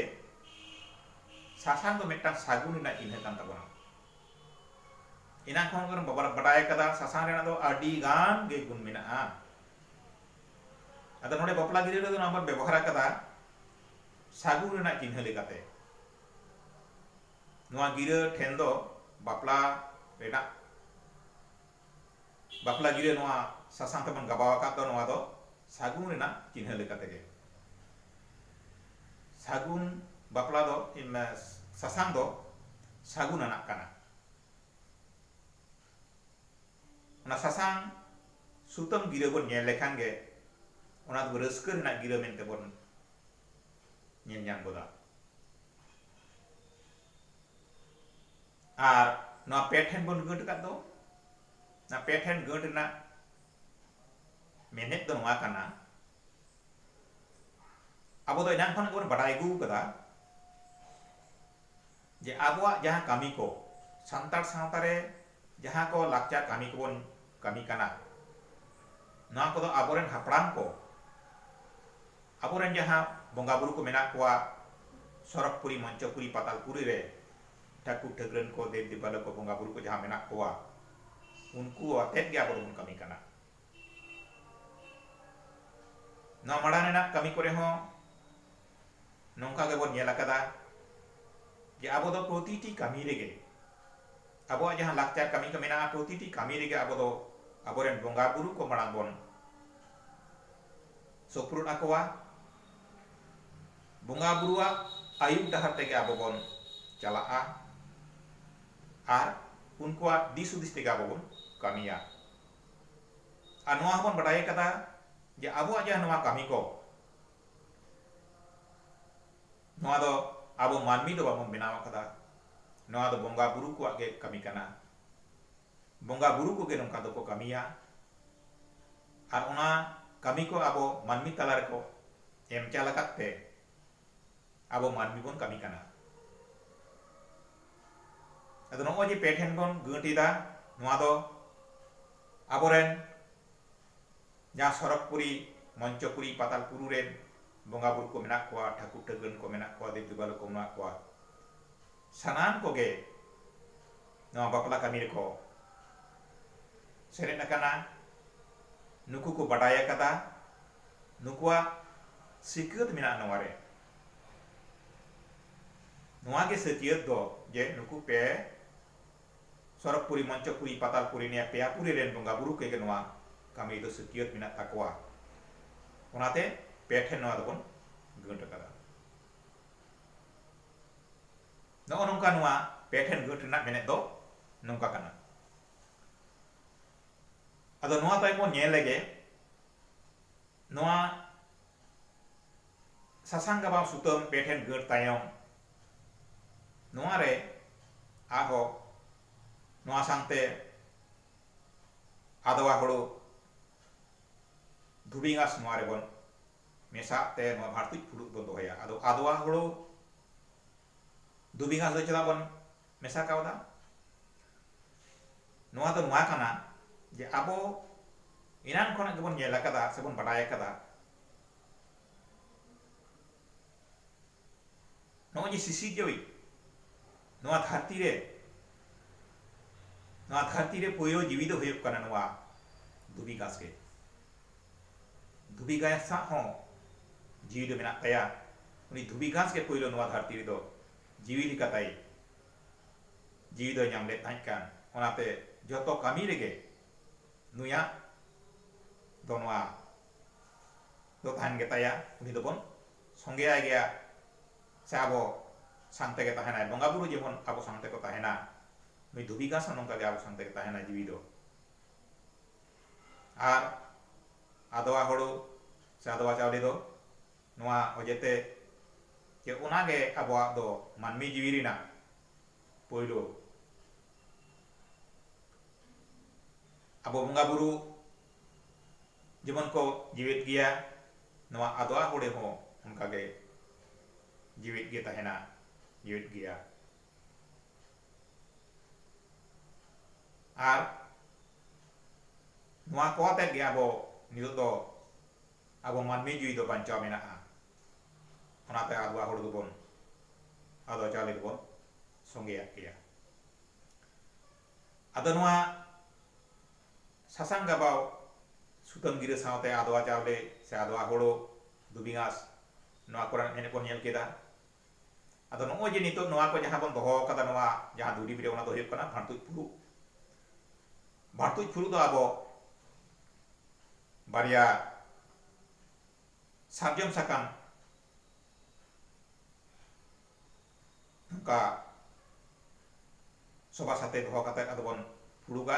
A: ᱥᱟᱥᱟᱝ ᱫᱚ ᱢᱤᱫᱴᱟᱝ ᱥᱟᱹᱜᱩᱱ ᱨᱮᱱᱟᱜ ᱪᱤᱱᱦᱟᱹ ᱠᱟᱱ ᱛᱟᱵᱚᱱᱟ ᱮᱱᱟᱝ ᱠᱷᱚᱱ ᱜᱮᱵᱚᱱ ᱵᱟᱰᱟᱭ ᱟᱠᱟᱫᱟ ᱥᱟᱥᱟᱝ ᱨᱮᱱᱟᱜ ᱫᱚ ᱟᱹᱰᱤ ᱜᱟᱱ ᱜᱮ ᱜᱩᱱ ᱢᱮᱱᱟᱜᱼᱟ ᱟᱫᱚ ᱱᱚᱰᱮ ᱵᱟᱯᱞᱟ ᱜᱤᱨᱟᱹ ᱨᱮᱫᱚ ᱱᱚᱣᱟ ᱵᱚᱱ ᱵᱮᱵᱚᱦᱟᱨ ᱟᱠᱟᱫᱟ ᱥᱟᱹᱜᱩᱱ ᱨᱮᱱᱟᱜ ᱪᱤᱱᱦᱟᱹ ᱞᱮᱠᱟᱛᱮ ᱱᱚᱣᱟ ᱜᱤᱨᱟᱹ ᱴᱷᱮᱱ ᱫᱚ ᱵᱟᱯᱞᱟ ᱨᱮᱱᱟᱜ ᱵᱟᱯᱞᱟ ᱜᱤᱨᱟᱹ ᱱᱚᱣᱟ ᱥᱟᱥᱟᱝ ᱛᱮᱵᱚᱱ ᱜᱟᱵᱟᱣ ᱟᱠᱟᱫ ᱫᱚ ᱱᱚᱣᱟ ᱫᱚ ᱥᱟᱹᱜᱩᱱ ᱨᱮᱱᱟᱜ ᱪᱤᱱᱦᱟᱹ ᱞᱮᱠᱟᱛᱮ ᱜᱮ ᱥᱟᱹᱜᱩᱱ ᱵᱟᱯᱞᱟ ᱫᱚ ᱥᱟᱥᱟᱝ ᱫᱚ ᱥᱟᱹᱜᱩᱱ ᱟᱱᱟᱜ ᱠᱟᱱᱟ ᱚᱱᱟ ᱥᱟᱥᱟᱝ ᱥᱩᱛᱟᱹᱢ ᱜᱤᱨᱟᱹ ᱵᱚᱱ ᱧᱮᱞ ᱞᱮᱠᱷᱟᱱ ᱜᱮ ᱚᱱᱟ ᱫᱚ ᱨᱟᱹᱥᱠᱟᱹ ᱨᱮᱱᱟᱜ ᱜᱤᱨᱟᱹ ᱢᱮᱱᱛᱮ ᱵᱚᱱ ᱧᱮᱞ ᱧᱟᱢ ᱜᱚᱫᱟ ᱟᱨ ᱱᱚᱣᱟ ᱯᱮ ᱴᱷᱮᱱ ᱵᱚᱱ ᱜᱟᱹᱴ ᱟᱠᱟᱫ ᱫᱚ ᱱᱚᱣᱟ ᱯᱮ ᱴᱷᱮᱱ ᱜᱟᱹᱴ ᱨᱮᱱᱟᱜ ᱢᱮᱱᱮᱫ ᱫᱚ ᱱᱚᱣᱟ ᱠᱟᱱᱟ ᱟᱵᱚ ᱫᱚ ᱮᱱᱟᱝ ᱠᱷᱚᱱᱟᱜ ᱜᱮᱵᱚᱱ ᱵᱟᱰᱟᱭ ᱟᱹᱜᱩ ᱟᱠᱟᱫᱟ ᱡᱮ ᱟᱵᱚᱣᱟᱜ ᱡᱟᱦᱟᱸ ᱠᱟᱹᱢᱤ ᱠᱚ ᱥᱟᱱᱛᱟᱲ ᱥᱟᱶᱛᱟ ᱨᱮ ᱡᱟᱦᱟᱸ ᱠᱚ ᱞᱟᱠᱪᱟᱨ ᱠᱟᱹᱢᱤ ᱠᱚ ᱵᱚᱱ ᱠᱟᱹᱢᱤ ᱠᱟᱱᱟ ᱱᱚᱣᱟ ᱠᱚ ᱫᱚ ᱟᱵᱚ ᱨᱮᱱ ᱦᱟᱯᱲᱟᱢ ᱠᱚ ᱟᱵᱚ ᱨᱮᱱ ᱡᱟᱦᱟᱸ ᱵᱚᱸᱜᱟ ᱵᱩᱨᱩ ᱠᱚ ᱢᱮᱱᱟᱜ ᱠᱚᱣᱟ ᱥᱚᱨᱚᱜᱽ ᱯᱩᱨᱤ ᱢᱚᱧᱪᱚ ᱯᱩᱨᱤ ᱯᱟᱛᱟᱞ ᱯᱩᱨᱤ ᱨᱮ ᱴᱷᱟᱹᱠᱩᱨ ᱴᱷᱟᱹᱠᱨᱟᱹᱱ ᱠᱚ ᱫᱮᱵᱽ ᱫᱮᱵᱟᱞᱳ ᱠᱚ ᱵᱚᱸᱜᱟ ᱵᱩᱨᱩ ᱠᱚ ᱡᱟᱦᱟᱸ ᱢᱮᱱᱟᱜ ᱠᱚᱣᱟ ᱩᱱᱠᱩ ᱟᱛᱮᱫ ᱜᱮ ᱟᱵᱚ ᱫᱚ ᱵᱚᱱ ᱠᱟᱹᱢᱤ ᱠᱟᱱᱟ ᱱᱚᱣᱟ ᱢᱟᱲᱟᱝ ᱨᱮᱱᱟᱜ ᱠᱟᱹᱢᱤ ᱠᱚ ᱨᱮ ᱦᱚᱸ ᱱᱚᱝᱠᱟ ᱜᱮ ᱵᱚᱱ ᱧᱮᱞ ᱟᱠᱟᱫᱟ ᱡᱮ ᱟᱵᱚ ᱫᱚ ᱯᱨᱚᱛᱤᱴᱤ ᱠᱟᱹᱢᱤ ᱨᱮ ᱜᱮ ᱟᱵᱚᱣᱟᱜ ᱡᱟᱦᱟᱸ ᱞᱟᱠᱪᱟᱨ ᱠᱟᱹᱢᱤ ᱠᱚ ᱢᱮᱱᱟᱜᱼᱟ ᱯᱨᱚᱛᱤᱴᱤ ᱠᱟᱹᱢᱤ ᱨᱮᱜᱮ ᱟᱵᱚ ᱫᱚ ᱟᱵᱚ ᱨᱮᱱ ᱵᱚᱸᱜᱟ ᱵᱩᱨᱩ ᱠᱚ ᱢᱟᱲᱟᱝ ᱵᱚᱱ ᱥᱳᱯᱨᱳᱫ ᱟᱠᱚᱣᱟ᱾ ᱵᱚᱸᱜᱟ ᱵᱩᱨᱩᱣᱟᱜ ᱟᱹᱭᱩᱨ ᱰᱟᱦᱟᱨ ᱛᱮᱜᱮ ᱟᱵᱚ ᱵᱚᱱ ᱪᱟᱞᱟᱜᱼᱟ ᱟᱨ ᱩᱱᱠᱩᱣᱟᱜ ᱫᱤᱥ ᱦᱩᱫᱤᱥ ᱛᱮᱜᱮ ᱟᱵᱚ ᱵᱚᱱ ᱠᱟᱹᱢᱤᱭᱟ᱾ ᱟᱨ ᱱᱚᱣᱟ ᱦᱚᱸ ᱵᱚᱱ ᱵᱟᱰᱟᱭ ᱟᱠᱟᱫᱟ ᱡᱮ ᱟᱵᱚᱣᱟᱜ ᱡᱟᱦᱟᱸ ᱱᱚᱣᱟ ᱠᱟᱹᱢᱤ ᱠᱚ ᱱᱚᱣᱟ ᱫᱚ ᱟᱵᱚ ᱢᱟᱹᱱᱢᱤ ᱫᱚ ᱵᱟᱵᱚᱱ ᱵᱮᱱᱟᱣ ᱟᱠᱟᱫᱟ᱾ ᱱᱚᱣᱟ ᱫᱚ ᱵᱚᱸᱜᱟ ᱵᱩᱨᱩ ᱠᱚᱣᱟᱜ ᱜᱮ ᱠᱟᱹᱢᱤ ᱠᱟᱱᱟ᱾ ᱵᱚᱸᱜᱟ ᱵᱩᱨᱩ ᱠᱚᱜᱮ ᱱᱚᱝᱠᱟ ᱫᱚᱠᱚ ᱠᱟᱹᱢᱤᱭᱟ ᱟᱨ ᱚᱱᱟ ᱠᱟᱹᱢᱤ ᱠᱚ ᱟᱵᱚ ᱢᱟᱹᱱᱢᱤ ᱛᱟᱞᱟ ᱨᱮᱠᱚ ᱮᱢ ᱪᱟᱞ ᱟᱠᱟᱫ ᱛᱮ ᱟᱵᱚ ᱢᱟᱹᱱᱢᱤ ᱵᱚᱱ ᱠᱟᱹᱢᱤ ᱠᱟᱱᱟ᱾ ᱟᱫᱚ ᱱᱚᱜᱼᱚᱭ ᱡᱮ ᱯᱮ ᱴᱷᱮᱱ ᱵᱚᱱ ᱜᱟᱹᱴ ᱮᱫᱟ ᱱᱚᱣᱟ ᱫᱚ ᱟᱵᱚ ᱨᱮᱱ ᱡᱟᱦᱟᱸ ᱥᱚᱨᱚᱜᱽᱯᱩᱨᱤ, ᱢᱚᱧᱪᱚᱯᱩᱨᱤ, ᱯᱟᱛᱟᱞᱯᱩᱨᱩ ᱨᱮᱱ ᱵᱚᱸᱜᱟ ᱵᱩᱨᱩ ᱠᱚ ᱢᱮᱱᱟᱜ ᱠᱚᱣᱟ, ᱴᱷᱟᱹᱠᱩᱨ ᱴᱷᱟᱹᱠᱨᱟᱹᱱ ᱠᱚ ᱢᱮᱱᱟᱜ ᱠᱚᱣᱟ, ᱫᱮᱵᱽ ᱫᱮᱵᱟᱞᱳ ᱠᱚ ᱢᱮᱱᱟᱜ ᱠᱚᱣᱟ, ᱥᱟᱱᱟᱢ ᱠᱚᱜᱮ ᱱᱚᱣᱟ ᱵᱟᱯᱞᱟ ᱠᱟᱹᱢᱤ ᱨᱮᱠᱚ ᱥᱮᱞᱮᱫ ᱟᱠᱟᱱᱟ᱾ ᱱᱩᱠᱩ ᱠᱚ ᱵᱟᱰᱟᱭ ᱟᱠᱟᱫᱟ, ᱱᱩᱠᱩᱣᱟᱜ ᱥᱤᱠᱟᱹᱛ ᱢᱮᱱᱟᱜᱼᱟ ᱱᱚᱣᱟ ᱨᱮ᱾ ᱱᱚᱣᱟ ᱜᱮ ᱥᱟᱹᱠᱭᱟᱹᱛ ᱫᱚ ᱡᱮ ᱱᱩᱠᱩ ᱯᱮ ᱥᱚᱨᱚᱜᱽᱯᱩᱨᱤ, ᱢᱚᱧᱪᱚᱯᱩᱨᱤ, ᱯᱟᱛᱟᱞᱯᱩᱨᱤ ᱱᱤᱭᱟᱹ ᱯᱮᱭᱟ ᱯᱩᱨᱤ ᱨᱮᱱ ᱵᱚᱸᱜᱟ ᱵᱩᱨᱩ ᱠᱚᱜᱮ ᱱᱚᱣᱟ ᱠᱟᱹᱢᱤ ᱫᱚ ᱥᱟᱹᱠᱭᱟᱹᱛ ᱢᱮᱱᱟᱜ ᱛᱟᱠᱚᱣᱟ᱾ ᱚᱱᱟᱛᱮ ᱯᱮ ᱴᱷᱮᱱ ᱱᱚᱣᱟ ᱫᱚᱵᱚᱱ ᱜᱟᱹᱴ ᱟᱠᱟᱫᱟ᱾ ᱱᱚᱜᱼᱚ ᱱᱚᱝᱠᱟ ᱱᱚᱣᱟ ᱯᱮ ᱴᱷᱮᱱ ᱜᱟᱹᱴ ᱨᱮᱱᱟᱜ ᱢᱮᱱᱮᱛ ᱫᱚ ᱱᱚᱝᱠᱟ ᱠᱟᱱᱟ᱾ ᱟᱫᱚ ᱱᱚᱣᱟ ᱛᱟᱭᱚᱢ ᱵᱚᱱ ᱧᱮᱞ ᱞᱮᱜᱮ ᱱᱚᱣᱟ ᱥᱟᱥᱟᱝ ᱜᱟᱵᱟᱣ ᱥᱩᱛᱟᱹᱢ ᱯᱮ ᱴᱷᱮᱱ ᱜᱟᱹᱴ ᱛᱟᱭᱚᱢ ᱱᱚᱣᱟ ᱨᱮ ᱟᱨᱦᱚᱸ ᱱᱚᱣᱟ ᱥᱟᱶᱛᱮ ᱟᱫᱽᱣᱟ ᱦᱳᱲᱳ ᱫᱷᱩᱵᱤ ᱜᱷᱟᱸᱥ ᱱᱚᱣᱟ ᱨᱮᱵᱚᱱ ᱢᱮᱥᱟᱣᱟᱜ ᱛᱮ ᱱᱚᱣᱟ ᱵᱷᱟᱲᱛᱩᱡ ᱯᱷᱩᱲᱩᱜ ᱵᱚᱱ ᱫᱚᱦᱚᱭᱟ ᱟᱫᱚ ᱟᱫᱽᱣᱟ ᱦᱳᱲᱳ ᱫᱷᱩᱵᱤ ᱜᱷᱟᱥ ᱫᱚ ᱪᱮᱫᱟᱜ ᱵᱚᱱ ᱢᱮᱥᱟ ᱠᱟᱣᱫᱟ ᱱᱚᱣᱟ ᱫᱚ ᱱᱚᱣᱟ ᱠᱟᱱᱟ ᱡᱮ ᱟᱵᱚ ᱮᱱᱟᱱ ᱠᱷᱚᱱᱟᱜ ᱜᱮᱵᱚᱱ ᱧᱮᱞ ᱟᱠᱟᱫᱟ ᱥᱮᱵᱚᱱ ᱵᱟᱰᱟᱭ ᱟᱠᱟᱫᱟ ᱱᱚᱜᱼᱚᱭ ᱡᱮ ᱥᱤᱥᱤᱨᱡᱟᱹᱣᱤᱡ ᱱᱚᱣᱟ ᱫᱷᱟᱹᱨᱛᱤ ᱨᱮ ᱱᱚᱣᱟ ᱫᱷᱟᱹᱨᱛᱤ ᱨᱮ ᱯᱳᱭᱞᱳ ᱡᱤᱣᱤ ᱫᱚ ᱦᱩᱭᱩᱜ ᱠᱟᱱᱟ ᱱᱚᱣᱟ ᱫᱷᱩᱵᱤ ᱜᱷᱟᱥ ᱜᱮ ᱫᱷᱩᱵᱤ ᱜᱷᱟᱥ ᱥᱟᱶ ᱦᱚᱸ ᱡᱤᱣᱤ ᱫᱚ ᱢᱮᱱᱟᱜ ᱛᱟᱭᱟ ᱩᱱᱤ ᱫᱷᱩᱵᱤ ᱜᱷᱟᱸᱥ ᱜᱮ ᱯᱩᱭᱞᱩ ᱱᱚᱣᱟ ᱫᱷᱟᱹᱨᱛᱤ ᱨᱮ ᱫᱚ ᱡᱤᱣᱤ ᱞᱮᱠᱟᱛᱟᱭ ᱡᱤᱣᱤ ᱫᱚᱭ ᱧᱟᱢ ᱞᱮᱫ ᱛᱟᱦᱮᱸᱫ ᱠᱟᱱ ᱚᱱᱟᱛᱮ ᱡᱚᱛᱚ ᱠᱟᱹᱢᱤ ᱨᱮᱜᱮ ᱱᱩᱭᱟᱜ ᱫᱚ ᱱᱚᱣᱟ ᱫᱚ ᱛᱟᱦᱮᱱ ᱜᱮᱛᱟᱭᱟ ᱩᱱᱤ ᱫᱚᱵᱚᱱ ᱥᱚᱸᱜᱮ ᱟᱭ ᱜᱮᱭᱟ ᱥᱮ ᱟᱵᱚ ᱥᱟᱝ ᱛᱮᱜᱮ ᱛᱟᱦᱮᱱᱟᱭ ᱵᱚᱸᱜᱟ ᱵᱩᱨᱩ ᱡᱮᱢᱚᱱ ᱟᱵᱚ ᱥᱟᱝ ᱛᱮᱠᱚ ᱛᱟᱦᱮᱱᱟ ᱱᱩᱭ ᱫᱷᱩᱵᱤ ᱜᱷᱟᱸᱥ ᱦᱚᱸ ᱱᱚᱝᱠᱟ ᱜᱮ ᱟᱵᱚ ᱥᱟᱝ ᱛᱮᱜᱮ ᱛᱟᱦᱮᱱᱟ ᱡᱤᱣᱤ ᱫᱚ ᱟᱨ ᱟᱫᱚᱣᱟ ᱦᱳᱲᱳ ᱥᱮ ᱟᱫᱚᱣᱟ ᱪᱟᱣᱞᱮ ᱫᱚ ᱱᱚᱣᱟ ᱚᱡᱮᱛᱮ ᱡᱮ ᱚᱱᱟ ᱜᱮ ᱟᱵᱚᱣᱟᱜ ᱫᱚ ᱢᱟᱹᱱᱢᱤ ᱡᱤᱣᱤ ᱨᱮᱱᱟᱜ ᱯᱩᱭᱞᱩ ᱟᱵᱚ ᱵᱚᱸᱜᱟ ᱵᱩᱨᱩ ᱡᱮᱢᱚᱱ ᱠᱚ ᱡᱤᱣᱮᱫ ᱜᱮᱭᱟ ᱱᱚᱣᱟ ᱟᱫᱣᱟ ᱦᱚᱲᱮ ᱦᱚᱸ ᱚᱱᱠᱟ ᱜᱮ ᱡᱤᱣᱮᱫ ᱜᱮ ᱛᱟᱦᱮᱱᱟ ᱡᱤᱣᱮᱫ ᱜᱮᱭᱟ ᱟᱨ ᱱᱚᱣᱟ ᱠᱚ ᱟᱛᱮᱫ ᱜᱮ ᱟᱵᱚ ᱱᱤᱛᱚᱜ ᱫᱚ ᱟᱵᱚ ᱢᱟᱹᱱᱢᱤ ᱡᱩᱭᱤ ᱫᱚ ᱵᱟᱧᱪᱟᱣ ᱢᱮᱱᱟᱜᱼᱟ ᱚᱱᱟᱛᱮ ᱟᱫᱣᱟ ᱦᱚᱲ ᱫᱚᱵᱚᱱ ᱟᱫᱣᱟ ᱪᱟᱣᱞᱮ ᱫᱚᱵᱚᱱ ᱥᱚᱸᱜᱮᱭᱟᱜ ᱜᱮᱭᱟ ᱟᱫᱚ ᱱᱚᱣᱟ ᱥᱟᱥᱟᱝ ᱜᱟᱵᱟᱣ ᱥᱩᱛᱟᱹᱢ ᱜᱤᱨᱟᱹ ᱥᱟᱶᱛᱮ ᱟᱫᱣᱟ ᱪᱟᱣᱞᱮ ᱥᱮ ᱟᱫᱣᱟ ᱦᱳᱲᱳ ᱫᱷᱩᱵᱤ ᱜᱷᱟᱸᱥ ᱱᱚᱣᱟ ᱠᱚᱨᱮᱱᱟᱜ ᱮᱱᱮᱡ ᱵᱚᱱ ᱧᱮᱞ ᱠᱮᱫᱟ ᱟᱫᱚ ᱱᱚᱜᱼᱚᱭ ᱡᱮ ᱱᱤᱛᱚᱜ ᱱᱚᱣᱟ ᱠᱚ ᱡᱟᱦᱟᱸ ᱵᱚᱱ ᱫᱚᱦᱚ ᱟᱠᱟᱫᱟ ᱱᱚᱣᱟ ᱡᱟᱦᱟᱸ ᱫᱩᱨᱤᱵ ᱨᱮ ᱚᱱᱟ ᱫᱚ ᱦᱩᱭᱩᱜ ᱠᱟᱱᱟ ᱵᱷᱟᱬᱛᱩᱡ ᱯᱷᱩᱨᱩᱜ ᱵᱷᱟᱬᱛᱩᱡ ᱯᱷᱩᱨᱩᱜ ᱫᱚ ᱟᱵᱚ ᱵᱟᱨᱭᱟ ᱥᱟᱨᱡᱚᱢ ᱥᱟᱠᱟᱢ ᱱᱚᱝᱠᱟ ᱥᱚᱵᱟ ᱥᱟᱛᱮ ᱫᱚᱦᱚ ᱠᱟᱛᱮ ᱟᱫᱚ ᱵᱚᱱ ᱯᱷᱩᱲᱩᱜᱟ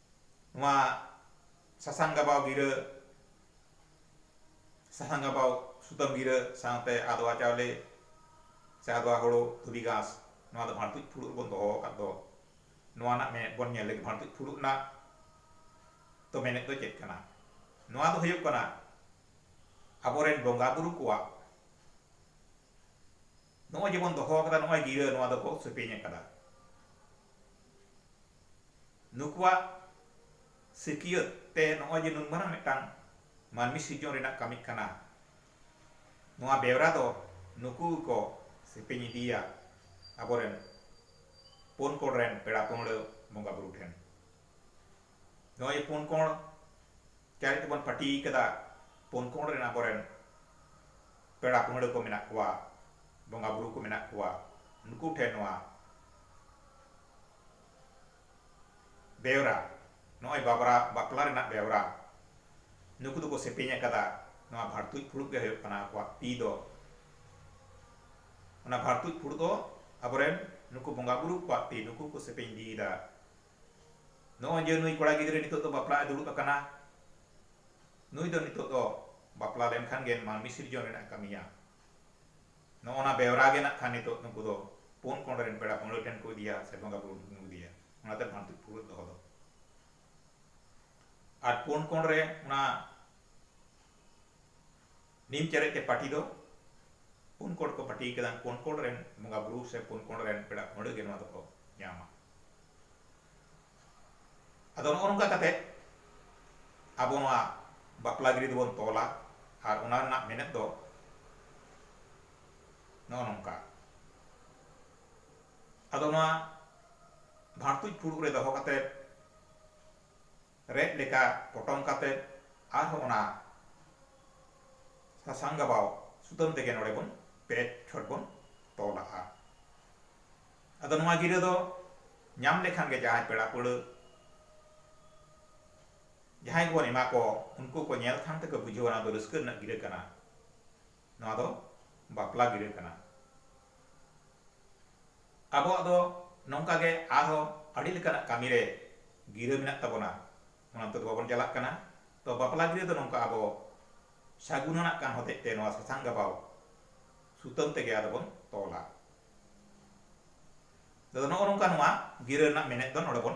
A: ᱱᱚᱣᱟ ᱥᱟᱥᱟᱝ ᱜᱟᱵᱟᱣ ᱜᱤᱨᱟᱹ ᱥᱟᱥᱟᱝ ᱜᱟᱵᱟᱣ ᱥᱩᱛᱟᱹᱢ ᱜᱤᱨᱟᱹ ᱥᱟᱶᱛᱮ ᱟᱫᱽᱣᱟ ᱪᱟᱣᱞᱮ ᱥᱮ ᱟᱫᱽᱣᱟ ᱦᱳᱲᱳ ᱫᱷᱩᱵᱤ ᱜᱷᱟᱸᱥ ᱱᱚᱣᱟ ᱫᱚ ᱵᱷᱟᱬᱛᱩᱡ ᱯᱷᱩᱲᱩᱜ ᱨᱮᱵᱚᱱ ᱫᱚᱦᱚ ᱟᱠᱟᱫ ᱫᱚ ᱱᱚᱣᱟ ᱨᱮᱱᱟᱜ ᱢᱮᱱᱮᱛ ᱵᱚᱱ ᱧᱮᱞ ᱞᱮᱜᱮ ᱵᱷᱟᱬᱛᱩᱡ ᱯᱷᱩᱲᱩᱜ ᱨᱮᱱᱟᱜ ᱫᱚ ᱢᱮᱱᱮᱛ ᱫᱚ ᱪᱮᱫ ᱠᱟᱱᱟ ᱱᱚᱣᱟ ᱫᱚ ᱦᱩᱭᱩᱜ ᱠᱟᱱᱟ ᱟᱵᱚᱨᱮᱱ ᱵᱚᱸᱜᱟ ᱵᱩᱨᱩ ᱠᱚᱣᱟᱜ ᱱᱚᱜᱼᱚᱭ ᱡᱮᱵᱚᱱ ᱫᱚᱦᱚ ᱟᱠᱟᱫᱟ ᱱᱚᱜᱼᱚᱭ ᱜᱤᱨᱟᱹ ᱱᱚᱣᱟ ᱫᱚᱠᱚ ᱥᱮᱯᱮᱧ ᱟᱠᱟᱫᱟ᱾ ᱱᱩᱠᱩᱣᱟᱜ ᱥᱤᱠᱤᱭᱟᱹᱛ ᱛᱮ ᱱᱚᱜᱼᱚᱭ ᱡᱮ ᱱᱩᱱ ᱢᱟᱨᱟᱝ ᱢᱤᱫᱴᱟᱝ ᱢᱟᱹᱱᱢᱤ ᱥᱤᱨᱡᱚᱱ ᱨᱮᱱᱟᱜ ᱠᱟᱹᱢᱤᱜ ᱠᱟᱱᱟ ᱱᱚᱣᱟ ᱵᱮᱣᱨᱟ ᱫᱚ ᱱᱩᱠᱩ ᱜᱮᱠᱚ ᱥᱮᱯᱮᱧ ᱤᱫᱤᱭᱟ ᱟᱵᱚᱨᱮᱱ ᱯᱩᱱ ᱠᱚᱬ ᱨᱮᱱ ᱯᱮᱲᱟ ᱯᱟᱹᱦᱲᱟᱹ ᱵᱚᱸᱜᱟ ᱵᱩᱨᱩ ᱴᱷᱮᱱ᱾ ᱱᱚᱜᱼᱚᱭ ᱡᱮ ᱯᱩᱱ ᱠᱚᱬ ᱪᱟᱨᱮᱡ ᱛᱮᱵᱚᱱ ᱯᱟᱹᱴᱤ ᱟᱠᱟᱫᱟ ᱯᱩᱱ ᱠᱚᱬ ᱨᱮᱱ ᱟᱵᱚᱨᱮᱱ ᱯᱮᱲᱟ ᱯᱟᱹᱦᱲᱟᱹ ᱠᱚ ᱢᱮᱱᱟᱜ ᱠᱚᱣᱟ, ᱵᱚᱸᱜᱟ ᱵᱩᱨᱩ ᱠᱚ ᱢᱮᱱᱟᱜ ᱠᱚᱣᱟ, ᱱᱩᱠᱩ ᱴᱷᱮᱱ ᱱᱚᱣᱟ ᱵᱮᱣᱨᱟ, ᱱᱚᱜᱼᱚᱭ ᱵᱟᱵᱽᱨᱟ ᱵᱟᱯᱞᱟ ᱨᱮᱱᱟᱜ ᱵᱮᱣᱨᱟ ᱱᱩᱠᱩ ᱫᱚᱠᱚ ᱥᱮᱯᱮᱧ ᱟᱠᱟᱫᱟ, ᱱᱚᱣᱟ ᱵᱷᱟᱲᱛᱩᱡ ᱯᱷᱩᱲᱩᱜ ᱜᱮ ᱦᱩᱭᱩᱜ ᱠᱟᱱᱟ ᱟᱠᱚᱣᱟᱜ ᱛᱤ ᱫᱚ᱾ ᱚᱱᱟ ᱵᱷᱟᱲᱛᱩᱡ ᱯᱷᱩᱲᱩᱜ ᱫᱚ ᱟᱵᱚᱨᱮᱱ ᱱᱩᱠᱩ ᱵᱚᱸᱜᱟ ᱵᱩᱨᱩ ᱠᱚᱣᱟᱜ ᱛᱤ ᱱᱩᱠᱩ ᱠᱚ ᱥᱮᱯᱮᱧ ᱤᱫᱤᱭᱮᱫᱟ᱾ ᱱᱚᱜᱼᱚᱭ ᱡᱮ ᱱᱩᱭ ᱠᱚᱲᱟ ᱜᱤᱫᱽᱨᱟᱹ ᱱᱤᱛᱚᱜ ᱫᱚ ᱵᱟᱯᱞᱟᱜ ᱮ ᱫᱩᱲᱩᱵ ᱟᱠᱟᱱᱟ, ᱱᱩᱭ ᱫᱚ ᱱᱤᱛᱚᱜ ᱫᱚ ᱵᱟᱯᱞᱟ ᱞᱮᱱ ᱠᱷᱟᱱ ᱜᱮ ᱢᱟᱹᱱᱢᱤ ᱥᱤᱨᱡᱚᱱ ᱨᱮᱱᱟᱜ ᱮ ᱠᱟᱹᱢᱤᱭᱟ᱾ ᱱᱚᱜᱼᱚ ᱱᱟ ᱵᱮᱣᱨᱟ ᱜᱮ ᱱᱟᱜ ᱠᱷᱟᱱ ᱱᱤᱛᱚᱜ ᱱᱩᱠᱩ ᱫᱚ ᱯᱩᱱ ᱠᱚᱬ ᱨᱮᱱ ᱯᱮᱲᱟ ᱯᱟᱹᱦᱲᱟᱹ ᱴᱷᱮᱱ ᱠᱚ ᱤᱫᱤᱭᱟ ᱥᱮ ᱵᱚᱸᱜᱟ ᱵᱩᱨᱩ ᱴᱷᱮᱱ ᱠᱚ ᱤᱫᱤᱭᱟ᱾ ᱚᱱᱟᱛᱮ ᱵᱷᱟᱹᱱᱛᱩᱡ ᱯᱷᱩᱨᱩᱫ ᱫᱚᱦᱚ ᱫᱚ᱾ ᱟᱨ ᱯᱩᱱ ᱠᱚᱬ ᱨᱮ ᱚᱱᱟ ᱱᱤᱢ ᱪᱟᱨᱮᱡ ᱛᱮ ᱯᱟᱹᱴᱤ ᱫᱚ ᱯᱩᱱ ᱠᱚᱬ ᱠᱚ ᱯᱟᱹᱴᱤ ᱟᱠᱟᱫᱟ ᱯᱩᱱ ᱠᱚᱬ ᱨᱮᱱ ᱵᱚᱸᱜᱟ ᱵᱩᱨᱩ ᱥᱮ ᱯᱩᱱ ᱠᱚᱬ ᱨᱮᱱ ᱯᱮᱲᱟ ᱯᱟᱹᱦᱲᱟᱹ ᱜᱮ ᱱᱚᱣᱟ ᱫᱚᱠᱚ ᱧᱟᱢᱟ ᱟᱫᱚ ᱱᱚᱜᱼᱚ ᱱᱚᱝᱠᱟ ᱠᱟᱛᱮ ᱟᱵᱚ ᱱᱚᱣᱟ ᱵᱟᱯᱞᱟ ᱜᱤᱨᱟᱹ ᱫᱚᱵᱚᱱ ᱛᱚᱞᱟ ᱟᱨ ᱚᱱᱟ ᱨᱮᱱᱟᱜ ᱢᱮᱱᱮᱛ ᱫᱚ ᱱᱚᱜᱼᱚ ᱱᱚᱝᱠᱟ ᱟᱫᱚ ᱱᱚᱣᱟ ᱵᱷᱟᱬᱛᱩᱡ ᱯᱷᱩᱲᱩᱜ ᱨᱮ ᱫᱚᱦᱚ ᱠᱟᱛᱮ ᱨᱮᱫ ᱞᱮᱠᱟ ᱯᱚᱴᱚᱢ ᱠᱟᱛᱮ ᱟᱨᱦᱚᱸ ᱚᱱᱟ ᱥᱟᱥᱟᱝ ᱜᱟᱵᱟᱣ ᱥᱩᱛᱟᱹᱢ ᱛᱮᱜᱮ ᱱᱚᱰᱮ ᱵᱚᱱ ᱯᱮ ᱪᱷᱚᱴ ᱵᱚᱱ ᱛᱚᱞᱟᱜᱼᱟ᱾ ᱟᱫᱚ ᱱᱚᱣᱟ ᱜᱤᱨᱟᱹ ᱫᱚ ᱧᱟᱢ ᱞᱮᱠᱷᱟᱱ ᱜᱮ ᱡᱟᱦᱟᱸᱭ ᱯᱮᱲᱟ ᱯᱟᱹᱲᱦᱟᱹ ᱡᱟᱦᱟᱸᱭ ᱜᱮᱵᱚᱱ ᱮᱢᱟ ᱠᱚ ᱩᱱᱠᱩ ᱠᱚ ᱧᱮᱞ ᱛᱷᱟᱝ ᱛᱮᱠᱚ ᱵᱩᱡᱷᱟᱹᱣᱟ ᱱᱚᱣᱟ ᱫᱚ ᱨᱟᱹᱥᱠᱟᱹ ᱨᱮᱱᱟᱜ ᱜᱤᱨᱟᱹ ᱠᱟᱱᱟ᱾ ᱱᱚᱣᱟ ᱫᱚ ᱵᱟᱯᱞᱟ ᱜᱤᱨᱟᱹ ᱠᱟᱱᱟ᱾ ᱟᱵᱚᱣᱟᱜ ᱫᱚ ᱱᱚᱝᱠᱟ ᱜᱮ ᱟᱨᱦᱚᱸ ᱟᱹᱰᱤ ᱞᱮᱠᱟᱱᱟᱜ ᱠᱟᱹᱢᱤ ᱨᱮ ᱜᱤᱨᱟᱹ ᱢᱮᱱᱟᱜ ᱛᱟᱵᱚᱱᱟ᱾ ᱚᱱᱟ ᱛᱮᱫᱚ ᱵᱟᱵᱚᱱ ᱪᱟᱞᱟᱜ ᱠᱟᱱᱟ᱾ ᱛᱚ ᱵᱟᱯᱞᱟ ᱜᱤᱨᱟᱹ ᱫᱚ ᱱᱚᱝᱠᱟ ᱟᱵᱚ ᱥᱟᱹᱜᱩᱱ ᱟᱱᱟᱜ ᱠᱟᱱ ᱦᱚᱛᱮᱡ ᱛᱮ ᱱᱚᱣᱟ ᱥᱟᱥᱟᱝ ᱜᱟᱵᱟᱣ ᱥᱩᱛᱟᱹᱢ ᱛᱮᱜᱮ ᱟᱫᱚ ᱵᱚᱱ ᱛᱚᱞᱟ᱾ ᱟᱫᱚ ᱱᱚᱜᱼᱚ ᱱᱚᱝᱠᱟ ᱱᱚᱣᱟ ᱜᱤᱨᱟᱹ ᱨᱮᱱᱟᱜ ᱢᱮᱱᱮᱛ ᱫᱚ ᱱᱚᱰᱮ ᱵᱚᱱ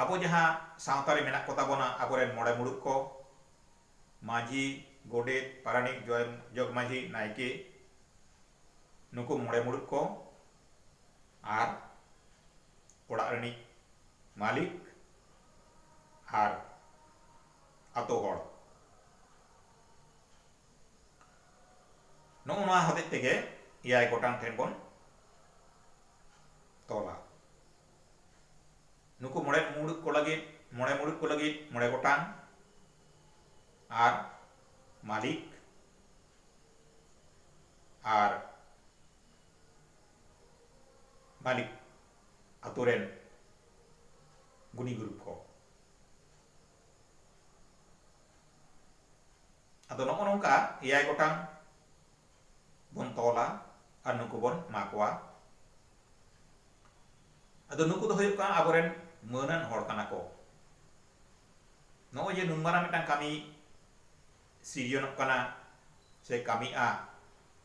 A: ᱟᱵᱚ ᱡᱟᱦᱟᱸ ᱥᱟᱶᱛᱟ ᱨᱮ ᱢᱮᱱᱟᱜ ᱠᱚ ᱛᱟᱵᱚᱱᱟ ᱟᱵᱚ ᱨᱮᱱ ᱢᱚᱬᱮ ᱢᱩᱬᱩᱛ ᱠᱚ ᱢᱟᱹᱡᱷᱤ, ᱜᱚᱰᱮᱛ, ᱯᱟᱨᱟᱱᱤᱠ, ᱡᱚᱜᱽ ᱢᱟᱹᱡᱷᱤ, ᱱᱟᱭᱠᱮ ᱱᱩᱠᱩ ᱢᱚᱬᱮ ᱢᱩᱬᱩᱛ ᱠᱚ ᱟᱨ ᱚᱲᱟᱜ ᱨᱤᱱᱤᱡ ᱢᱟᱹᱞᱤᱠ ᱟᱨ ᱟᱛᱳ ᱦᱚᱲ᱾ ᱱᱚᱜᱼᱚ ᱱᱚᱣᱟ ᱦᱚᱛᱮᱡ ᱛᱮᱜᱮ ᱮᱭᱟᱭ ᱜᱚᱴᱟᱝ ᱴᱷᱮᱱ ᱵᱚᱱ ᱛᱚᱞᱟ ᱱᱩᱠᱩ ᱢᱚᱬᱮ ᱢᱩᱬᱩᱛ ᱠᱚ ᱞᱟᱹᱜᱤᱫ ᱢᱚᱬᱮ ᱢᱩᱬᱩᱛ ᱠᱚ ᱞᱟᱹᱜᱤᱫ ᱢᱚᱬᱮ ᱜᱚᱴᱟᱝ ᱟᱨ ᱢᱟᱹᱞᱤᱠ ᱟᱨ ᱢᱟᱹᱞᱤᱠ ᱟᱛᱳ ᱨᱮᱱ ᱜᱩᱱᱤ ᱜᱩᱨᱩᱵ ᱠᱚ ᱟᱫᱚ ᱱᱚᱜᱼᱚ ᱱᱚᱝᱠᱟ ᱮᱭᱟᱭ ᱜᱚᱴᱟᱝ ᱵᱚᱱ ᱛᱚᱞᱟ ᱟᱨ ᱱᱩᱠᱩ ᱵᱚᱱ ᱮᱢᱟ ᱠᱚᱣᱟ ᱟᱫᱚ ᱱᱩᱠᱩ ᱫᱚ ᱦᱩᱭᱩᱜ ᱠᱟᱱᱟ ᱟᱵᱚᱨᱮᱱ ᱢᱟᱹᱱᱟᱱ ᱦᱚᱲ ᱠᱟᱱᱟ ᱠᱚ ᱱᱚᱜᱼᱚᱭ ᱡᱮ ᱱᱩᱱ ᱢᱟᱨᱟᱝ ᱢᱤᱫᱴᱟᱝ ᱠᱟᱹᱢᱤ ᱥᱤᱨᱡᱚᱱᱚᱜ ᱠᱟᱱᱟ ᱥᱮ ᱠᱟᱹᱢᱤᱜᱼᱟ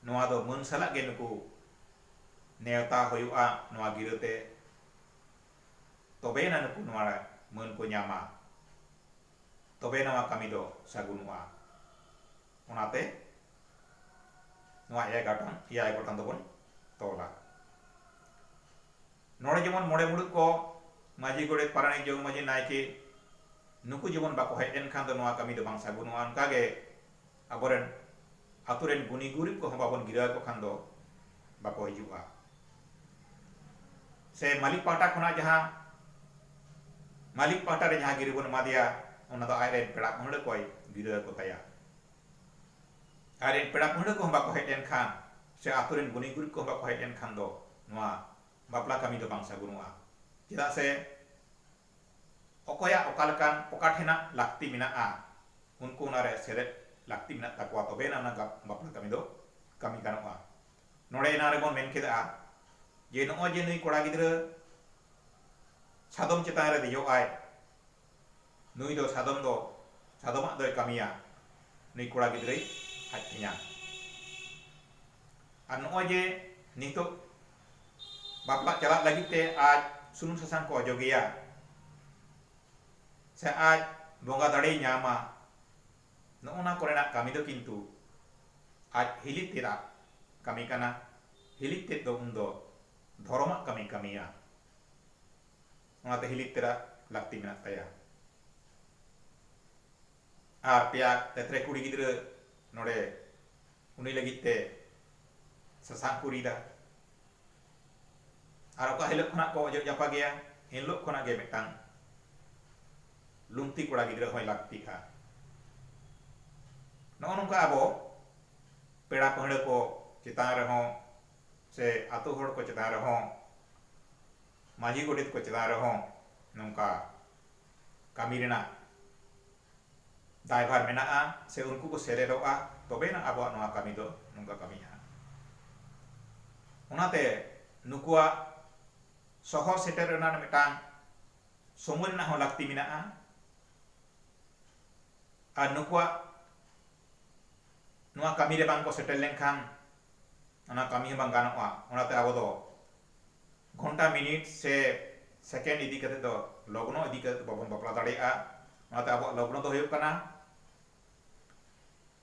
A: ᱱᱚᱣᱟ ᱫᱚ ᱢᱟᱹᱱ ᱥᱟᱞᱟᱜ ᱜᱮ ᱱᱩᱠᱩ ᱱᱮᱣᱛᱟ ᱦᱩᱭᱩᱜᱼᱟ ᱱᱚᱣᱟ ᱜᱤᱨᱟᱹᱛᱮ ᱛᱚᱵᱮᱭᱮᱱᱟ ᱱᱩᱠᱩ ᱱᱚᱣᱟ ᱢᱟᱹᱱ ᱠᱚ ᱧᱟᱢᱟ ᱛᱚᱵᱮ ᱱᱚᱣᱟ ᱠᱟᱹᱢᱤ ᱫᱚ ᱥᱟᱹᱜᱩᱱᱚᱜᱼᱟ᱾ ᱚᱱᱟᱛᱮ ᱱᱚᱣᱟ ᱮᱭᱟᱭ ᱜᱟᱴᱚᱱ ᱮᱭᱟᱭ ᱜᱚᱴᱟᱱ ᱫᱚᱵᱚᱱ ᱛᱚᱞᱟ᱾ ᱱᱚᱰᱮ ᱡᱮᱢᱚᱱ ᱢᱚᱬᱮ ᱢᱩᱬᱩᱛ ᱠᱚ ᱢᱟᱹᱡᱷᱤ, ᱜᱚᱰᱮᱛ, ᱯᱟᱨᱟᱱᱤᱠ, ᱡᱚᱜᱽ ᱢᱟᱹᱡᱷᱤ, ᱱᱟᱭᱠᱮ ᱱᱩᱠᱩ ᱡᱮᱢᱚᱱ ᱵᱟᱠᱚ ᱦᱮᱡ ᱞᱮᱱᱠᱷᱟᱱ ᱫᱚ ᱱᱚᱣᱟ ᱠᱟᱹᱢᱤ ᱫᱚ ᱵᱟᱝ ᱥᱟᱹᱜᱩᱱᱚᱜᱼᱟ᱾ ᱚᱱᱠᱟ ᱜᱮ ᱟᱵᱚ ᱨᱮᱱ ᱟᱹᱛᱩ ᱨᱮᱱ ᱜᱩᱱᱤ ᱜᱩᱨᱤᱵᱽ ᱠᱚᱦᱚᱸ ᱵᱟᱵᱚᱱ ᱜᱤᱨᱟᱹ ᱟᱠᱚ ᱠᱷᱟᱱ ᱫᱚ ᱵᱟᱠᱚ ᱦᱤᱡᱩᱜᱼᱟ ᱥᱮ ᱢᱟᱹᱞᱤᱠ ᱯᱟᱦᱴᱟ ᱠᱷᱚᱱᱟᱜ ᱡᱟᱦᱟᱸ ᱢᱟᱹᱞᱤᱠ ᱯᱟᱦᱴᱟ ᱨᱮ ᱡᱟᱦᱟᱸ ᱜᱤᱨᱟᱹ ᱵᱚᱱ ᱮᱢᱟ ᱫᱮᱭᱟ ᱚᱱᱟ ᱫᱚ ᱟᱡ ᱨᱮᱱ ᱯᱮᱲᱟ ᱯᱟᱹᱦᱲᱟᱹ ᱠᱚᱭ ᱜᱤᱨᱟᱹ ᱟᱠᱚ ᱛᱟᱭᱟ ᱟᱡ ᱨᱮᱱ ᱯᱮᱲᱟ ᱯᱟᱹᱦᱲᱟᱹ ᱠᱚᱦᱚᱸ ᱵᱟᱠᱚ ᱦᱮᱡ ᱞᱮᱱ ᱠᱷᱟᱱ ᱥᱮ ᱟᱹᱛᱩ ᱨᱮᱱ ᱜᱩᱱᱤ ᱜᱩᱨᱤᱵᱽ ᱠᱚᱦᱚᱸ ᱵᱟᱠᱚ ᱦᱮᱡ ᱞᱮᱱ ᱠᱷᱟᱱ ᱫᱚ ᱱᱚᱣᱟ ᱵᱟᱯᱞᱟ ᱠᱟᱹᱢᱤ ᱫᱚ ᱵᱟᱝ ᱥᱟᱹᱜᱩᱱᱚᱜᱼᱟ ᱪᱮᱫᱟᱜ ᱥᱮ ᱚᱠᱚᱭᱟᱜ ᱚᱠᱟ ᱞᱮᱠᱟᱱ ᱚᱠᱟ ᱴᱷᱮᱱᱟᱜ ᱞᱟᱹᱠᱛᱤ ᱢᱮᱱᱟᱜᱼᱟ ᱩᱱᱠᱩ ᱚᱱᱟ ᱨᱮ ᱥᱮᱞᱮᱫ ᱞᱟᱹᱠᱛᱤ ᱢᱮᱱᱟᱜ ᱛᱟᱠᱚᱣᱟ ᱛᱚᱵᱮ ᱟᱱᱟᱜ ᱚᱱᱟ ᱵᱟᱯᱞᱟ ᱠᱟᱹᱢᱤ ᱫᱚ ᱠᱟᱹᱢᱤ ᱜᱟᱱᱚᱜᱼᱟ᱾ ᱱᱚᱰᱮ ᱮᱱᱟᱝ ᱨᱮ ᱵᱚᱱ ᱢᱮᱱ ᱠᱮᱫᱼᱟ ᱡᱮ ᱱᱚᱜᱼᱚᱭ ᱡᱮ ᱱᱩᱭ ᱠᱚᱲᱟ ᱜᱤᱫᱽᱨᱟᱹ ᱥᱟᱫᱚᱢ ᱪᱮᱛᱟᱱ ᱨᱮ ᱫᱮᱡᱚᱜ ᱟᱭ ᱱᱩᱭ ᱫᱚ ᱥᱟᱫᱚᱢ ᱫᱚ ᱥᱟᱫᱚᱢᱟᱜ ᱫᱚᱭ ᱠᱟᱹᱢᱤᱭᱟ ᱱᱩᱭ ᱠᱚᱲᱟ ᱜᱤᱫᱽᱨᱟᱹᱭ ᱟᱡ ᱴᱷᱮᱧᱟ᱾ ᱟᱨ ᱱᱚᱜᱼᱚᱭ ᱡᱮ ᱱᱤᱛᱚᱜ ᱵᱟᱯᱞᱟᱜ ᱪᱟᱞᱟᱜ ᱞᱟᱹᱜᱤᱫ ᱛᱮ ᱟᱡ ᱥᱩᱱᱩᱢ ᱥᱟᱥᱟᱝ ᱠᱚ ᱚᱡᱚᱜᱮᱭᱟ ᱥᱮ ᱟᱡ ᱵᱚᱸᱜᱟ ᱫᱟᱲᱮᱭ ᱧᱟᱢᱟ ᱱᱚᱜᱼᱚ ᱱᱟ ᱠᱚᱨᱮᱱᱟᱜ ᱠᱟᱹᱢᱤ ᱫᱚ ᱠᱤᱱᱛᱩ ᱟᱡ ᱦᱤᱞᱤ ᱛᱮᱫᱟᱜ ᱠᱟᱹᱢᱤ ᱠᱟᱱᱟ ᱦᱤᱞᱤ ᱛᱮᱫ ᱫᱚ ᱩᱱᱫᱚ ᱫᱷᱚᱨᱚᱢᱟᱜ ᱠᱟᱹᱢᱤ ᱠᱟᱹᱢᱤᱭᱟ ᱚᱱᱟᱛᱮ ᱦᱤᱞᱤ ᱛᱮᱫᱟᱜ ᱞᱟᱹᱠᱛᱤ ᱢᱮᱱᱟᱜ ᱛᱟᱭᱟ ᱟᱨ ᱯᱮᱭᱟ ᱛᱮᱛᱨᱮ ᱠᱩᱲᱤ ᱜᱤᱫᱽᱨᱟᱹ ᱱᱚᱰᱮ ᱩᱱᱤ ᱞᱟᱹᱜᱤᱫ ᱛᱮ ᱥᱟᱥᱟᱝ ᱠᱚ ᱨᱤᱫᱟ ᱟᱨ ᱚᱠᱟ ᱦᱤᱞᱳᱜ ᱠᱷᱚᱱᱟᱜ ᱠᱚ ᱚᱡᱚᱜ ᱡᱟᱯᱟᱜᱮᱭᱟ ᱮᱱ ᱦᱤᱞᱳᱜ ᱠᱷᱚᱱᱟᱜ ᱜᱮ ᱢᱤᱫᱴᱟᱝ ᱞᱩᱝᱛᱤ ᱠᱚᱲᱟ ᱜᱤᱫᱽᱨᱟᱹ ᱦᱚᱸᱭ ᱞᱟᱹᱠᱛᱤᱜᱼᱟ ᱱᱚᱜᱼᱚ ᱱᱚᱝᱠᱟ ᱟᱵᱚ ᱯᱮᱲᱟ ᱯᱟᱹᱦᱲᱟᱹ ᱠᱚ ᱪᱮᱛᱟᱱ ᱨᱮᱦᱚᱸ ᱥᱮ ᱟᱛᱳ ᱦᱚᱲ ᱠᱚ ᱪᱮᱛᱟᱱ ᱨᱮᱦᱚᱸ ᱢᱟᱹᱡᱷᱤ ᱜᱚᱰᱮᱛ ᱠᱚ ᱪᱮᱛᱟᱱ ᱨᱮᱦᱚᱸ ᱱᱚᱝᱠᱟ ᱠᱟᱹᱢᱤ ᱨᱮᱱᱟᱜ ᱫᱟᱭᱵᱷᱟᱨ ᱢᱮᱱᱟᱜᱼᱟ ᱥᱮ ᱩᱱᱠᱩ ᱠᱚ ᱥᱮᱞᱮᱫᱚᱜᱼᱟ ᱛᱚᱵᱮ ᱟᱱᱟᱜ ᱟᱵᱚᱣᱟᱜ ᱱᱚᱣᱟ ᱠᱟᱹᱢᱤ ᱫᱚ ᱱᱚᱝᱠᱟ ᱠᱟᱹᱢᱤᱜᱼᱟ ᱦᱟᱸᱜ᱾ ᱚᱱᱟᱛᱮ ᱱᱩᱠᱩᱣᱟᱜ ᱥᱚᱦᱚᱨ ᱥᱮᱴᱮᱨ ᱨᱮᱱᱟᱜ ᱢᱤᱫᱴᱟᱝ ᱥᱚᱢᱚᱭ ᱨᱮᱱᱟᱜ ᱦᱚᱸ ᱞᱟᱹᱠᱛᱤ ᱢᱮᱱᱟᱜᱼᱟ ᱟᱨ ᱱᱩᱠᱩᱣᱟᱜ ᱱᱚᱣᱟ ᱠᱟᱹᱢᱤ ᱨᱮ ᱵᱟᱝ ᱠᱚ ᱥᱮᱴᱮᱨ ᱞᱮᱱᱠᱷᱟᱱ ᱚᱱᱟ ᱠᱟᱹᱢᱤ ᱦᱚᱸ ᱵᱟᱝ ᱜᱟᱱᱚᱜᱼᱟ ᱚᱱᱟᱛᱮ ᱟᱵᱚ ᱫᱚ ᱜᱷᱚᱱᱴᱟ ᱢᱤᱱᱤᱴ ᱥᱮ ᱥᱮᱠᱮᱱᱰ ᱤᱫᱤ ᱠᱟᱛᱮ ᱫᱚ ᱞᱚᱜᱽᱱᱚ ᱤᱫᱤ ᱠᱟᱛᱮ ᱫᱚ ᱵᱟᱵᱚᱱ ᱵᱟᱯᱞᱟ ᱫᱟᱲᱮᱭᱟᱜᱼᱟ ᱚᱱᱟᱛᱮ ᱟᱵᱚᱣᱟᱜ ᱞᱚᱜᱽᱱᱚ ᱫᱚ ᱦᱩᱭᱩᱜ ᱠᱟᱱᱟ